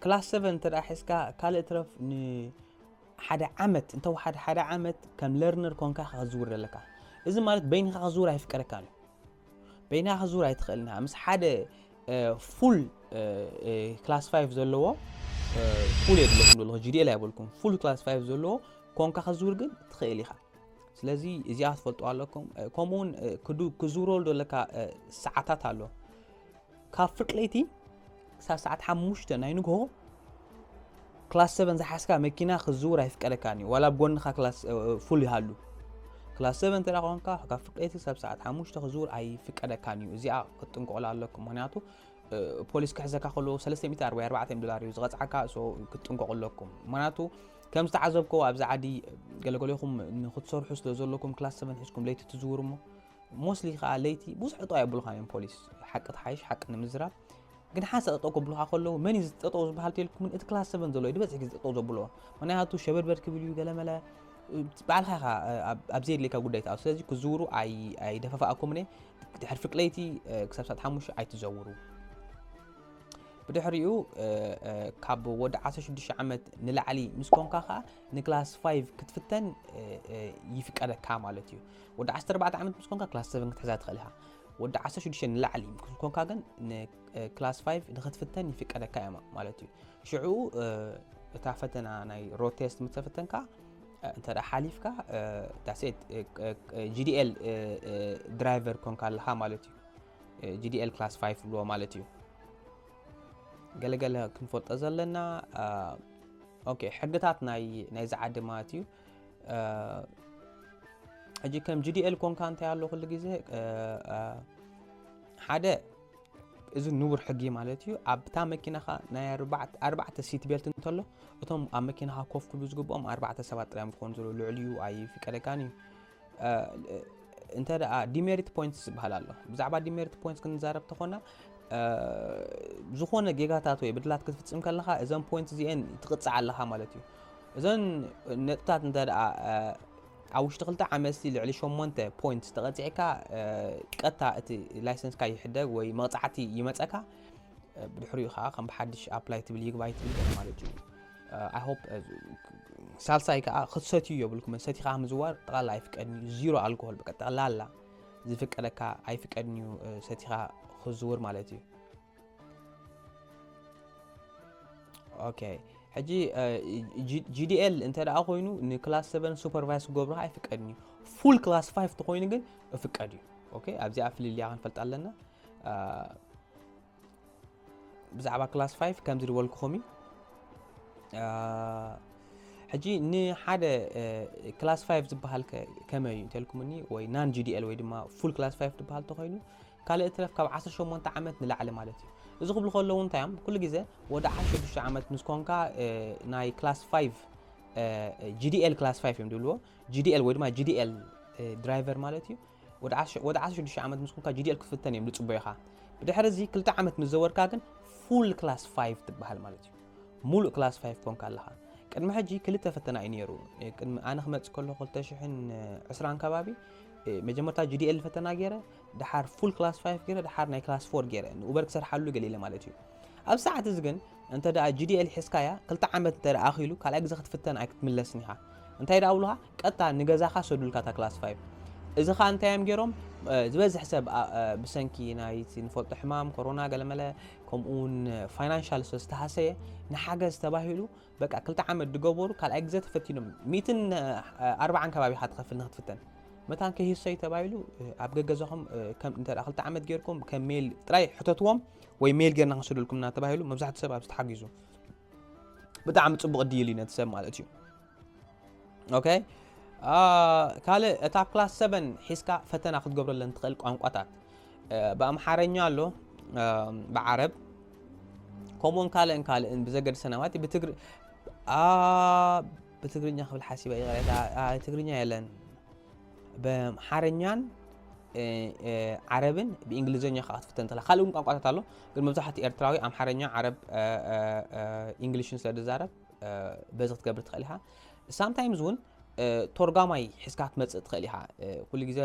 ክላስ ሰቨን እንተ ሒዝካ ካልእ ትረፍ ንሓደ ዓመት እንተወሓደ ሓደ ዓመት ከም ለርነር ኮንካ ከዝውር ኣለካ እዚ ማለት በይንካ ከዝውር ኣይፍቀደካ እዩ በይና ከዝውር ኣይትኽእልን ኢኻ ምስ ሓደ ፉል ክላስ ፋይቭ ዘለዎ ፉል የድለኩም ዘለኹ ጂዲኤል ኣይበልኩም ፉል ክላስ ፋይቭ ዘለዎ ኮንካ ከዝውር ግን ትኽእል ኢኻ ስለዚ እዚኣ ትፈልጡዋ ኣለኩም ከምኡ ውን ክዝውረሉ ዘለካ ሰዓታት ኣሎ ካብ ፍርቂ ለይቲ ክሳብ ሰዓት ሓሙሽተ ናይ ንግሆ ክላስ ሰቨን ዝሓስካ መኪና ክዝውር ኣይፍቀደካን እዩ ዋላ ጎንኻ ፉል ይሃሉ ክላስ ሰቨን እንተ ኮንካ ካብ ፍቀይቲ ክሳብ ሰዓት ሓሙሽተ ክዝውር ኣይፍቀደካን እዩ እዚኣ ክትጥንቀቑላ ኣለኩም ምክንያቱ ፖሊስ ክሕዘካ ከሎ 344 ዶላር እዩ ዝቐፅዓካ ክትጥንቀቑ ኣለኩም ምክንያቱ ከም ዝተዓዘብክዎ ኣብዚ ዓዲ ገለገሌኹም ንክትሰርሑ ስለ ዘለኩም ክላስ ሰቨን ሒዝኩም ለይቲ ትዝውሩ እሞ ሞስሊ ከዓ ለይቲ ብዙሕ ጠጠው የብሉኻን እዮም ፖሊስ ሓቂ ትሓይሽ ሓቂ ንምዝራብ ግን ሓንሳ ጠጠው ከብሉኻ ከለዉ መን እዩ ጠጠው ዝበሃል ተልኩምን እቲ ክላስ ሰቨን ዘሎ እዩ ዝበዝሕ ግዜ ጠጠው ዘብልዎ ምክንያቱ ሸበድበድ ክብል እዩ ገለመለ ባዕልኻ ኢኻ ኣብ ዘየድልየካ ጉዳይ ትኣ ስለዚ ክዝውሩ ኣይደፈፋኣኩምን እየ ድሕሪ ፍቅለይቲ ክሳብ ሰዓት ሓሙሽተ ኣይትዘውሩ ብድሕሪኡ ካብ ወዲ 16 ዓመት ንላዕሊ ምስ ኮንካ ከዓ ንክላስ 5 ክትፍተን ይፍቀደካ ማለት እዩ ወዲ 14 ዓመት ምስ ኮንካ ክላስ 7 ክትሕዛ ትኽእል ኢኻ ወዲ 16 ንላዕሊ ኮንካ ግን ንክላስ 5 ንክትፍተን ይፍቀደካ እያ ማለት እዩ ሽዑ እታ ፈተና ናይ ሮድ ቴስት ምተፈተንካ እንተ ሓሊፍካ ዳሴት ጂዲኤል ድራይቨር ኮንካ ኣለኻ ማለት እዩ GDL Class 5 ዝብልዎ ማለት እዩ ገለ ገለ ክንፈልጦ ዘለና ኦኬ ሕግታት ናይ ናይዚ ዓዲ ማለት እዩ ሕጂ ከም GDL ኮንካ እንታይ ኣሎ ኩሉ ግዜ ሓደ እዚ ንቡር ሕጊ ማለት እዩ ኣብታ መኪናኻ ናይ ኣርባዕተ ሲት ቤልት እንተሎ እቶም ኣብ መኪናኻ ኮፍ ክብሉ ዝግብኦም ኣርባዕተ ሰባት ጥራዮም ክኾኑ ዘለዉ ልዕሊኡ ኣይፍቀደካን እዩ እንተ ዲሜሪት ፖይንትስ ዝበሃል ኣሎ ብዛዕባ ዲሜሪት ፖይንትስ ክንዛረብ ተኾና ዝኾነ ጌጋታት ወይ ብድላት ክትፍፅም ከለኻ እዘን ፖይንት እዚአን ትቕፅዕ ኣለኻ ማለት እዩ እዘን ነጥብታት እንተ ኣብ ውሽጢ ክልተ ዓመት ልዕሊ ሸሞንተ ፖይንት ዝተቐፂዕካ ቀጥታ እቲ ላይሰንስካ ይሕደግ ወይ መቕፃዕቲ ይመፀካ ብድሕሪኡ ከዓ ከም ብሓድሽ ኣፕላይ ትብል ይግባይ ትብል ማለት እዩ ኣይ ሆፕ ሳልሳይ ከዓ ክትሰትዩ የብልኩምን ሰቲኻ ምዝዋር ጠቕላላ ኣይፍቀድን እዩ ዚሮ ኣልኮሆል በቃ ጠቕላላ ዝፍቀደካ ኣይፍቀድን እዩ ሰቲኻ ክዝውር ማለት እዩ ኦኬ ሕጂ ጂዲኤል እንተ ደኣ ኮይኑ ንክላስ 7 ሱፐርቫይስ ክገብሩካ ኣይፍቀድን እዩ ፉል ክላስ 5 ተኮይኑ ግን እፍቀድ እዩ ኦኬ ኣብዚኣ ፍልልያ ክንፈልጥ ኣለና ብዛዕባ ክላስ ፋይቭ ከምዚ ዝበልኩኹም እዩ ሕጂ ንሓደ ክላስ ፋይቭ ዝበሃል ከመይ እዩ እንተልኩምኒ ወይ ናን ጂዲኤል ወይ ድማ ፉል ክላስ ፋይቭ ዝበሃል ተኮይኑ ካልእ ትረፍ ካብ 18 ዓመት ንላዕሊ ማለት እዩ እዚ ክብሉ ከለዉ እንታይ እዮም ኩሉ ግዜ ወደ 16 ዓመት ምስ ኮንካ ናይ ክላስ ፋይቭ ጂዲኤል ክላስ ፋይቭ እዮም ዝብልዎ ጂዲኤል ወይ ድማ ጂዲኤል ድራይቨር ማለት እዩ ወዲ ዓሰርተ ሽዱሽተ ዓመት ምስ ኮንካ GDL ክትፍተን እዮም ዝጽበዩኻ። ብድሕሪ እዚ ክልተ ዓመት ምስ ዘወርካ ግን ፉል ክላስ ፋይቭ ትበሃል ማለት እዩ። ሙሉእ ክላስ ፋይቭ ኮንካ ኣለኻ። ቅድሚ ሕጂ ክልተ ፈተና እዩ ነይሩ። እ፣ ቅድሚ ኣነ ክመጽእ ከለኹ 2020 ከባቢ እ፣ መጀመርታ GDL ፈተና ገይረ፣ ድሓር ፉል ክላስ ፋይቭ ገይረ፣ ድሓር ናይ ክላስ ፎር ገይረ። ንኡበር ክሰርሓሉ ገሊለ ማለት እዩ። ኣብ ሰዓት እዚ ግን እንተ ደኣ GDL ሒዝካያ ክልተ ዓመት እንተ ደኣ ኣኺሉ ካልኣይ ግዜ ክትፍተን ኣይክትምለስን ኢኻ። እንታይ ደኣ ብሉኻ ቀጥታ ንገዛኻ ሰዱልካ እታ ክላስ ፋይቭ። እዚ ከኣ እንታይ እዮም ጌሮም ዝበዝሕ ሰብ ብሰንኪ ናይቲ ንፈልጦ ሕማም ኮሮና ገለመለ ከምኡውን ፋይናንሻል ስለ ዝተሃሰየ ንሓገዝ ተባሂሉ በቃ ክልተ ዓመት ድገበሩ ካልኣይ ግዘ ተፈቲኖም ሚትን ኣርባዓን ከባቢኻ ትኸፍል ንክትፍተን መታን ከይህሰዩ ተባሂሉ ኣብ ገገዛኹም እንተ ክልተ ዓመት ጌርኩም ከም ሜል ጥራይ ሕተትዎም ወይ ሜል ጌርና ክንስደልኩምና ተባሂሉ መብዛሕትኡ ሰብ ኣብዚ ተሓጊዙ ብጣዕሚ ፅቡቕ ዲል እዩ ነቲ ሰብ ማለት እዩ ኦኬ ካልእ እታ ክላስ 7 ሒዝካ ፈተና ክትገብረለን ትኽእል ቋንቋታት ብኣምሓረኛ ኣሎ ብዓረብ ከምኡውን ካልእን ካልእን ብዘገድሰ ናማት ብትግሪ ብትግርኛ ክብል ሓሲበ ይቕሬታ ትግርኛ የለን ብሓረኛን ዓረብን ብእንግሊዝኛ ከዓ ክትፍተን እንተላ ካልእ እውን ቋንቋታት ኣሎ ግን መብዛሕትኡ ኤርትራዊ ኣምሓርኛ ዓረብ እንግሊሽን ስለ ዝዛረብ በዚ ክትገብር ትኽእል ኢኻ ሳምታይምስ እውን ቶርጋማይ ሒዝካ ክትመጽእ ትኽእል ኢኻ ኩሉ ግዜ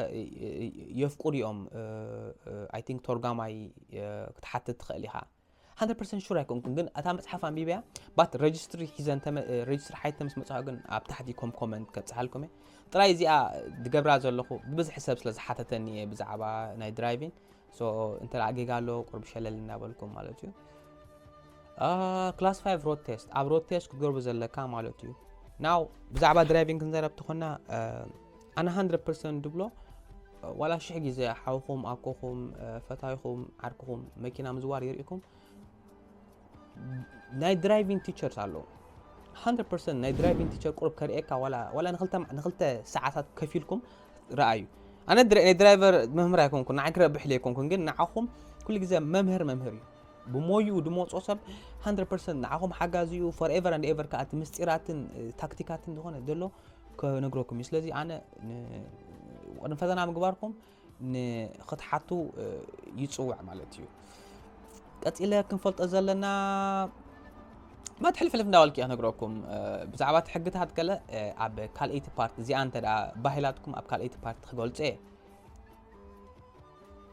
የፍቅዱ እዮም ኣይ ቲንክ ቶርጋማይ ክትሓትት ትኽእል ኢኻ 100 ፐርሰንት ሹር ኣይኮንኩን ግን እታ መጽሓፍ ኣንቢብያ ባት ረጅስትሪ ሒዘን ረጅስትሪ ሓይተ ምስ መጽሖ ግን ኣብ ታሕቲ ኮም ኮመንት ከብጽሓልኩም እየ ጥራይ እዚኣ ዝገብራ ዘለኹ ብብዝሒ ሰብ ስለ ዝሓተተኒ እየ ብዛዕባ ናይ ድራይቪን ሶ እንተ ጌጋ ኣሎ ቁርብ ሸለል እናበልኩም ማለት እዩ ክላስ 5 ሮድ ቴስት ኣብ ሮድ ቴስት ክትገርቡ ዘለካ ማለት እዩ ናው ብዛዕባ ድራይቪንግ ክንዘረብ ትኾና ኣነ 100 ድብሎ ዋላ ሽሕ ግዜ ሓውኹም ኣኮኹም ፈታይኹም ዓርክኹም መኪና ምዝዋር ይርኢኩም ናይ ድራይቪንግ ቲቸርስ ኣለዉ 100% ናይ ድራይቪንግ ቲቸር ቁርብ ከርእየካ ዋላ ንክልተ ሰዓታት ከፊልኩም ረኣዩ ኣነ ናይ ድራይቨር መምህር ኣይኮንኩን ንዓይ ክረብሕ ዘይኮንኩን ግን ንዓኹም ኩሉ ግዜ መምህር መምህር እዩ ብሞይኡ ድመፅኦ ሰብ 100% ንዓኹም ሓጋዚ እዩ ፎርኤቨር ኣንድ ኤቨር ከዓ እቲ ምስጢራትን ታክቲካትን ዝኾነ ዘሎ ክነግረኩም እዩ ስለዚ ኣነ ቅድሚ ፈተና ምግባርኩም ንክትሓቱ ይጽውዕ ማለት እዩ ቀጺለ ክንፈልጦ ዘለና ማለት ሕልፍሕልፍ እንዳበልክ እያ ክነግረኩም ብዛዕባ እቲ ሕግታት ገለ ኣብ ካልኣይቲ ፓርቲ እዚኣ እንተ ባሂላትኩም ኣብ ካልኣይቲ ፓርቲ ክገልጾ እየ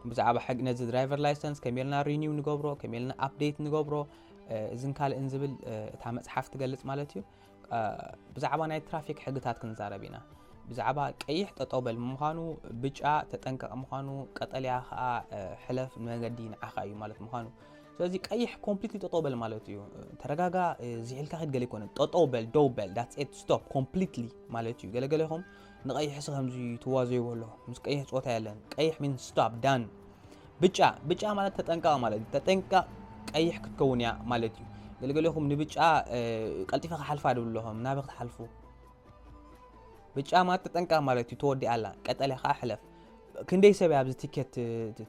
ብዛዕባ ሕግ ነዚ ድራይቨር ላይሰንስ ከመይ ኢልና ሪኒው ንገብሮ ከመይ ኢልና ኣፕዴት ንገብሮ እዝን ካልእን ዝብል እታ መፅሓፍ ትገልፅ ማለት እዩ ብዛዕባ ናይ ትራፊክ ሕግታት ክንዛረብ ኢና ብዛዕባ ቀይሕ ጠጠው በል ምዃኑ ብጫ ተጠንቀቕ ምዃኑ ቀጠልያ ከዓ ሕለፍ ንመንገዲ ንዓኻ እዩ ማለት ምዃኑ ስለዚ ቀይሕ ኮምፕሊትሊ ጠጠው በል ማለት እዩ ተረጋጋ ዝሒልካ ኪድ ገለ ይኮነ ጠጠው በል ደው በል ዳትስ ኤት ስቶፕ ኮምፕሊትሊ ማለት እዩ ገለገለ ይኹም ንቀይሕ ሲ ከምዚ ትዋዘይዎ ኣሎ ምስ ቀይሕ ፆታ የለን ቀይሕ ሚን ስቶፕ ዳን ብጫ ብጫ ማለት ተጠንቀቕ ማለት እዩ። ተጠንቀቕ ቀይሕ ክትከውን እያ ማለት እዩ። ገለገለኹም ንብጫ ቀልጢፈ ክሓልፋ ድብሉ ኣለኹም ናበ ክትሓልፉ ብጫ ማለት ተጠንቀቕ ማለት እዩ። ተወዲኣ ኣላ ቀጠልያ ከዓ ሕለፍ። ክንደይ ሰብ እያ ኣብዚ ቲኬት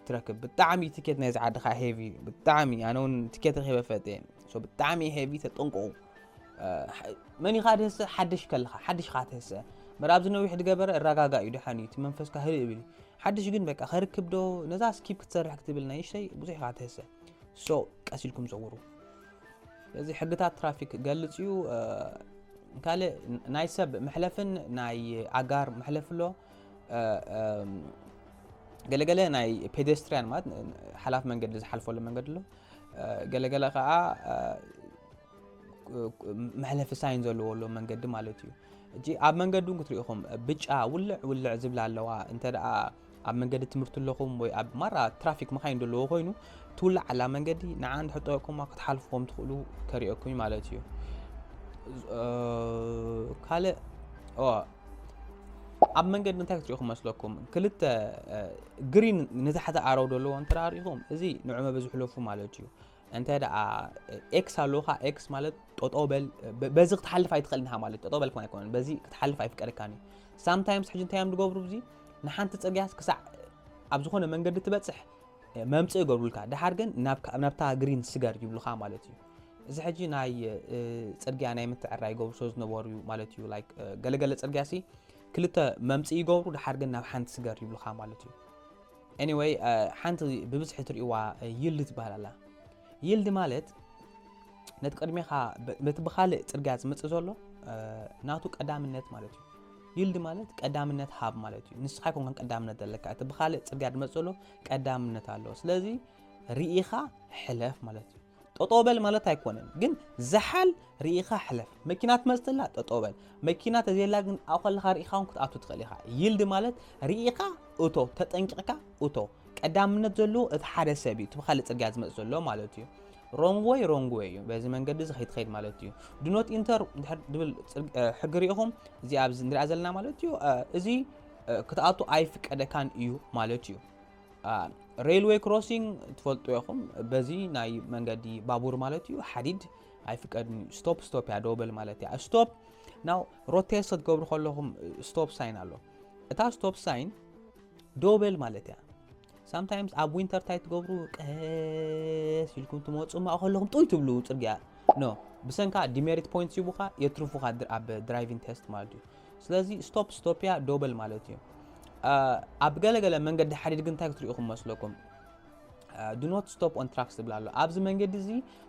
ትረክብ? ብጣዕሚ ቲኬት ናይዚ ዓዲ ከዓ ሄቪ እዩ ብጣዕሚ ኣነ እውን ቲኬት ረኪበ ፈጥ እየ ብጣዕሚ ሄቪ ተጠንቀቑ። መን ኢኻ ድህሰ ሓድሽ ከለኻ ሓድሽ ኻ ትህሰ ምር ኣብዚ ነዊሕ ድገበረ እረጋጋ እዩ ደሓን እዩ እቲ መንፈስካ ህልእ ብል ሓድሽ ግን በቃ ከርክብ ዶ ነዛ ስኪፕ ክትሰርሕ ክትብል ናይሽተይ ብዙሕ ኢኻ ትህሰ ሶ ቀስ ኢልኩም ዘውሩ ስለዚ ሕግታት ትራፊክ ክገልፅ እዩ ካልእ ናይ ሰብ መሕለፍን ናይ ኣጋር መሕለፍ ኣሎ ገለገለ ናይ ፔደስትሪያን ማለት ሓላፍ መንገዲ ዝሓልፈሉ መንገዲ ኣሎ ገለገለ ከዓ መሕለፊ ሳይን ዘለዎ ኣሎ መንገዲ ማለት እዩ እቲ ኣብ መንገዲ እውን ክትሪኢኹም ብጫ ውልዕ ውልዕ ዝብላ ኣለዋ እንተ ኣብ መንገዲ ትምህርቲ ኣለኹም ወይ ኣብ ማራ ትራፊክ መካይን ዘለዎ ኮይኑ ትውላዕ ኣላ መንገዲ ንዓ እንድሕጠቁማ ክትሓልፍኩም ትኽእሉ ከሪኦኩም ማለት እዩ ካልእ ኣብ መንገዲ እንታይ ክትሪኢኹም መስለኩም ክልተ ግሪን ንታሕቲ ኣረው ዘለዎ እንተ ርኢኹም እዚ ንዑ መበዝሕለፉ ማለት እዩ እንተ ደኣ ኤክስ ኣሎካ ኤክስ ማለት ጠጠው በል በዚ ክትሓልፍ ኣይትኽእልን ኢኻ ማለት ጠጠው በል ከም ኣይኮነን በዚ ክትሓልፍ ኣይፍቀደካን እዩ ሳምታይምስ ሕጂ እንታይ እዮም ዝገብሩ እዚ ንሓንቲ ጽርግያስ ክሳዕ ኣብ ዝኾነ መንገዲ ትበጽሕ መምጽእ ይገብሩልካ ድሓር ግን ናብታ ግሪን ስገር ይብሉኻ ማለት እዩ እዚ ሕጂ ናይ ጽርግያ ናይ ምትዕራ ይገብሩ ስለ ዝነበሩ እዩ ማለት እዩ ላይክ ገለገለ ጽርግያ ሲ ክልተ መምጽእ ይገብሩ ድሓር ግን ናብ ሓንቲ ስገር ይብሉኻ ማለት እዩ Anyway ሓንቲ ብብዝሒ ትሪእዋ Yield ትበሃል ኣላ Yield ማለት ነቲ ቅድሜኻ በቲ ብኻልእ ጽርግያ ዝመጽእ ዘሎ ናቱ ቀዳምነት ማለት እዩ ይልድ ማለት ቀዳምነት ሃብ ማለት እዩ ንስኻ ይኮንከን ቀዳምነት ዘለካ እቲ ብካልእ ፅርግያ ድመፅእ ዘሎ ቀዳምነት ኣለዎ ስለዚ ርኢኻ ሕለፍ ማለት እዩ ጠጠው በል ማለት ኣይኮነን ግን ዝሓል ርኢኻ ሕለፍ መኪና ትመጽእ ኣላ ጠጠው በል መኪና ተዘየላ ግን ኣብኡ ከለኻ ርኢኻ እውን ክትኣቱ ትኽእል ኢኻ ይልድ ማለት ርኢኻ እቶ ተጠንቂቕካ እቶ ቀዳምነት ዘለዎ እቲ ሓደ ሰብ እዩ እቲ ብካልእ ፅርግያ ዝመፅ ዘሎ ማለት እዩ ሮንግ ወይ ሮንግ ወይ እዩ በዚ መንገዲ እዚ ከይትኸይድ ማለት እዩ ድኖት ኢንተር ድብል ሕጊ ሪኢኹም እዚ ኣብዚ ንሪኣ ዘለና ማለት እዩ እዚ ክትኣቱ ኣይፍቀደካን እዩ ማለት እዩ ሬልወይ ክሮሲንግ ትፈልጡ ኢኹም። በዚ ናይ መንገዲ ባቡር ማለት እዩ ሓዲድ ኣይፍቀድን እዩ። ስቶፕ ስቶፕ እያ ደው በል ማለት እያ። ስቶፕ ናው ሮቴስ ክትገብሩ ከለኹም ስቶፕ ሳይን ኣሎ። እታ ስቶፕ ሳይን ደው በል ማለት እያ። ሳምታይምስ ኣብ ዊንተር ታይ ትገብሩ ቀስ ኢልኩም ትመፁ ማ ከለኹም ጥይ ትብሉ ፅርግያ ኖ ብሰንካ ዲሜሪት ፖይንት ይቡኻ የትርፉኻ ኣብ ድራይቪንግ ቴስት ማለት እዩ። ስለዚ ስቶፕ ስቶፕያ ደው በል ማለት እዩ። ኣብ ገለ ገለ መንገዲ ሓዲድ ግን እንታይ ክትሪኡ ክመስለኩም ዱ ኖት ስቶፕ ኦን ትራክስ ዝብል ኣሎ ኣብዚ መንገዲ እዚ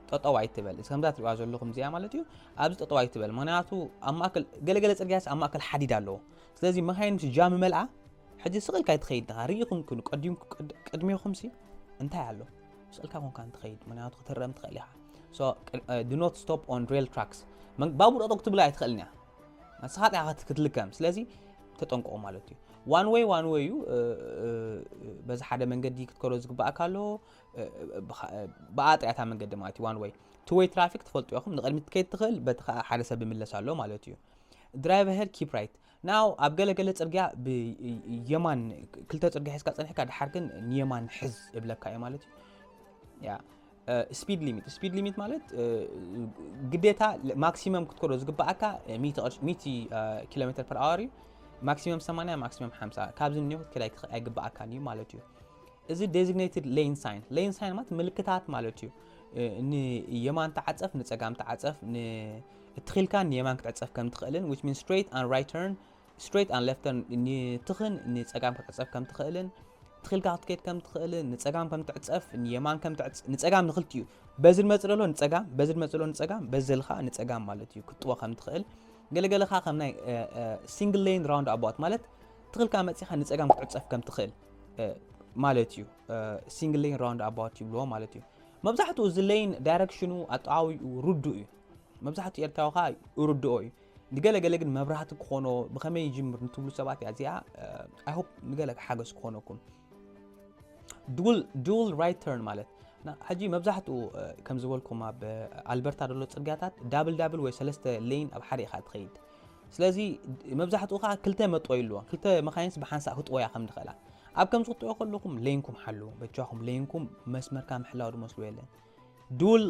ጠጠው ኣይትበል ከምዛ ትሪዋ ዘለኹም እዚኣ ማለት እዩ ኣብዚ ጠጠው ኣይትበል ምክንያቱ ኣብ ማእከል ገለገለ ፅርግያስ ኣብ ማእከል ሓዲድ ኣለዎ ስለዚ መካይን ምስ ጃም መልኣ ሕጂ ስቕ ኢልካ ይትኸይድ ድኻ ርኢኹም ክኑ ቅድሜኹም ሲ እንታይ ኣሎ ስቕ ኢልካ ኮንካ እንትኸይድ ምክንያቱ ክትረም ትኽእል ኢኻ ዱ ኖት ስቶፕ ኦን ሬል ትራክስ ባቡር ጠጠው ክትብላ ኣይትኽእልን እያ ንስኻ ጥራሕ ከት- ክትልከም ስለዚ ተጠንቀቑ ማለት እዩ ዋን ወይ ዋን ወይ እዩ እ፣ እ፣ እ፣ በዚ ሓደ መንገዲ ክትከዶ ዝግባእካ ኣሎ እ፣ እ፣ ብኻ- እ፣ ብኣ ጥያታ መንገዲ ማለት እዩ ዋን ወይ ቱ ወይ ትራፊክ ትፈልጡ ኢኹም ንቕድሚት ትከይድ ትኽእል በቲ ከዓ ሓደ ሰብ ይምለስ ኣሎ ማለት እዩ ድራይቭ ሄድ ኪፕ ራይት ናው ኣብ ገለገለ ፅርግያ ብየማን ክልተ ፅርግያ ሒዝካ ፀኒሕካ ድሓር ግን ንየማን ሕዝ እብለካ እዩ ማለት እዩ ያ ስፒድ ሊሚት ስፒድ ሊሚት ማለት ግዴታ ማክሲመም ክትከዶ ዝግባኣካ ሚእቲ ኪሎ ሜትር ፐር ኣወር እዩ ማክሲመም 80 ማክሲመም 50 ካብዚ እኒኦ ክትከድ ኣይትኽ- ኣይግባኣካን እዩ ማለት እዩ እዚ ዴዚግኔትድ ሌን ሳይን ሌን ሳይን ማለት ምልክታት ማለት እዩ እ፣ ንየማን ተዓፀፍ ንፀጋም ተዓፀፍ ን- እትኺልካ ንየማን ክትዕፀፍ ከም ትኽእልን which means straight and right turn ስትሬት ኣን ሌፍት ተርን ንትኽን ንጸጋም ክትዕጸፍ ከም ትኽእልን ትኺልካ ክትከድ ከም ትኽእልን ንጸጋም ከም ትዕጸፍ ንየማን ከም ትዕጽ ንጸጋም ንኽልቲኡ በዚ ንመጽእ ዘሎ ንጸጋም በዚ ንመጽእ ዘሎ ንጸጋም በዚ ዘል ከዓ ንጸጋም ማለት እዩ ክትጥወ ከም ትኽእል ገለገለ ከዓ ከም ናይ ሲንግል ሌን ራውንድ ኣባት ማለት ትኽልካ መጺኻ ንጸጋም ክትዕጸፍ ከም ትኽእል ማለት እዩ ሲንግል ሌን ራውንድ ኣባት ይብልዎ ማለት እዩ መብዛሕትኡ እዚ ሌን ዳይረክሽኑ ኣጠዋዊኡ ርዱእ እዩ መብዛሕትኡ ኤርትራዊ ከዓ ርድኦ እዩ ንገለ ገለ ግን መብራህቲ ክኾኖ ብኸመይ ይጅምር ንትብሉ ሰባት እያ እዚኣ ኣይሆፕ ንገለ ሓገዝ ክኾነኩም ዱል ራይት ተርን ማለት ሕጂ መብዛሕትኡ ከም ዝበልኩም ኣብ ኣልበርታ ደሎ ፅርግያታት ዳብል ዳብል ወይ ሰለስተ ሌን ኣብ ሓደ ኢኻ ትኸይድ ስለዚ መብዛሕትኡ ከዓ ክልተ መጥወይ ኣለዎ ክልተ መካይንስ ብሓንሳእ ክትወያ ከም ዝኽእላ ኣብ ከምዚ ክትጥዑ ከለኹም ለይንኩም ሓሉ በጃኹም ለይንኩም መስመርካ ምሕላው ድመስሉ የለን ዱል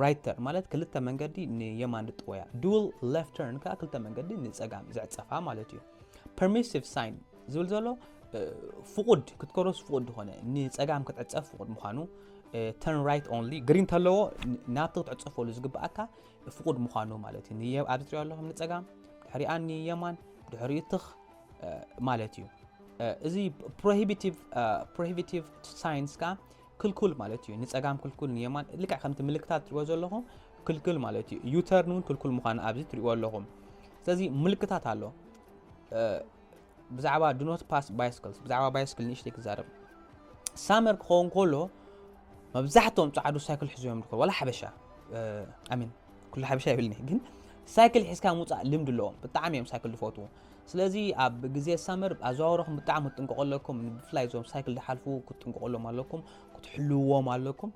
ራይት ተርን ማለት ክልተ መንገዲ ንየማን ዝጥወያ፣ ዱል ሌፍት ተርን ከዓ ክልተ መንገዲ ንፀጋም ዝዕፀፋ ማለት እዩ። ፐርሚሲቭ ሳይን ዝብል ዘሎ ፍቁድ ክትከሮስ ፍቁድ ዝኾነ ንፀጋም ክትዕፀፍ ፍቁድ ምዃኑ ተርን ራይት ኦንሊ ግሪን ተለዎ ናብቲ ክትዕፀፈሉ ዝግብኣካ ፍቁድ ምዃኑ ማለት እዩ ኣብዚ ትሪኦ ኣለኹም ንፀጋም ድሕሪኣ ንየማን ድሕሪኡ ትኽ ማለት እዩ እዚ ፕሮሂቢቲቭ ሳይንስ ከዓ ክልኩል ማለት እዩ ንጸጋም ክልኩል ንየማን ልክዕ ከምቲ ምልክታት ትሪእዎ ዘለኹም ክልኩል ማለት እዩ ዩተርን እውን ክልኩል ምዃኑ ኣብዚ ትሪእዎ ኣለኹም ስለዚ ምልክታት ኣሎ ብዛዕባ ድኖት ፓስ ባይስክልስ ብዛዕባ ባይስክል ንእሽተይ ክዛረብ ሳመር ክኸውን ከሎ መብዛሕትኦም ፃዕዱ ሳይክል ሒዞም ይርከቡ ዋላ ሓበሻ ኣሚን ኩሉ ሓበሻ ይብልኒ ግን ሳይክል ሒዝካ ምውፃእ ልምዲ ኣለዎም ብጣዕሚ እዮም ሳይክል ዝፈትዉ ስለዚ ኣብ ግዜ ሳመር ኣዘዋውረኹም ብጣዕሚ ክትጥንቀቑ ኣለኩም። ብፍላይ እዞም ሳይክል ዝሓልፉ ክትጥንቀቑሎም ኣለኩም፣ ክትሕልውዎም ኣለኩም።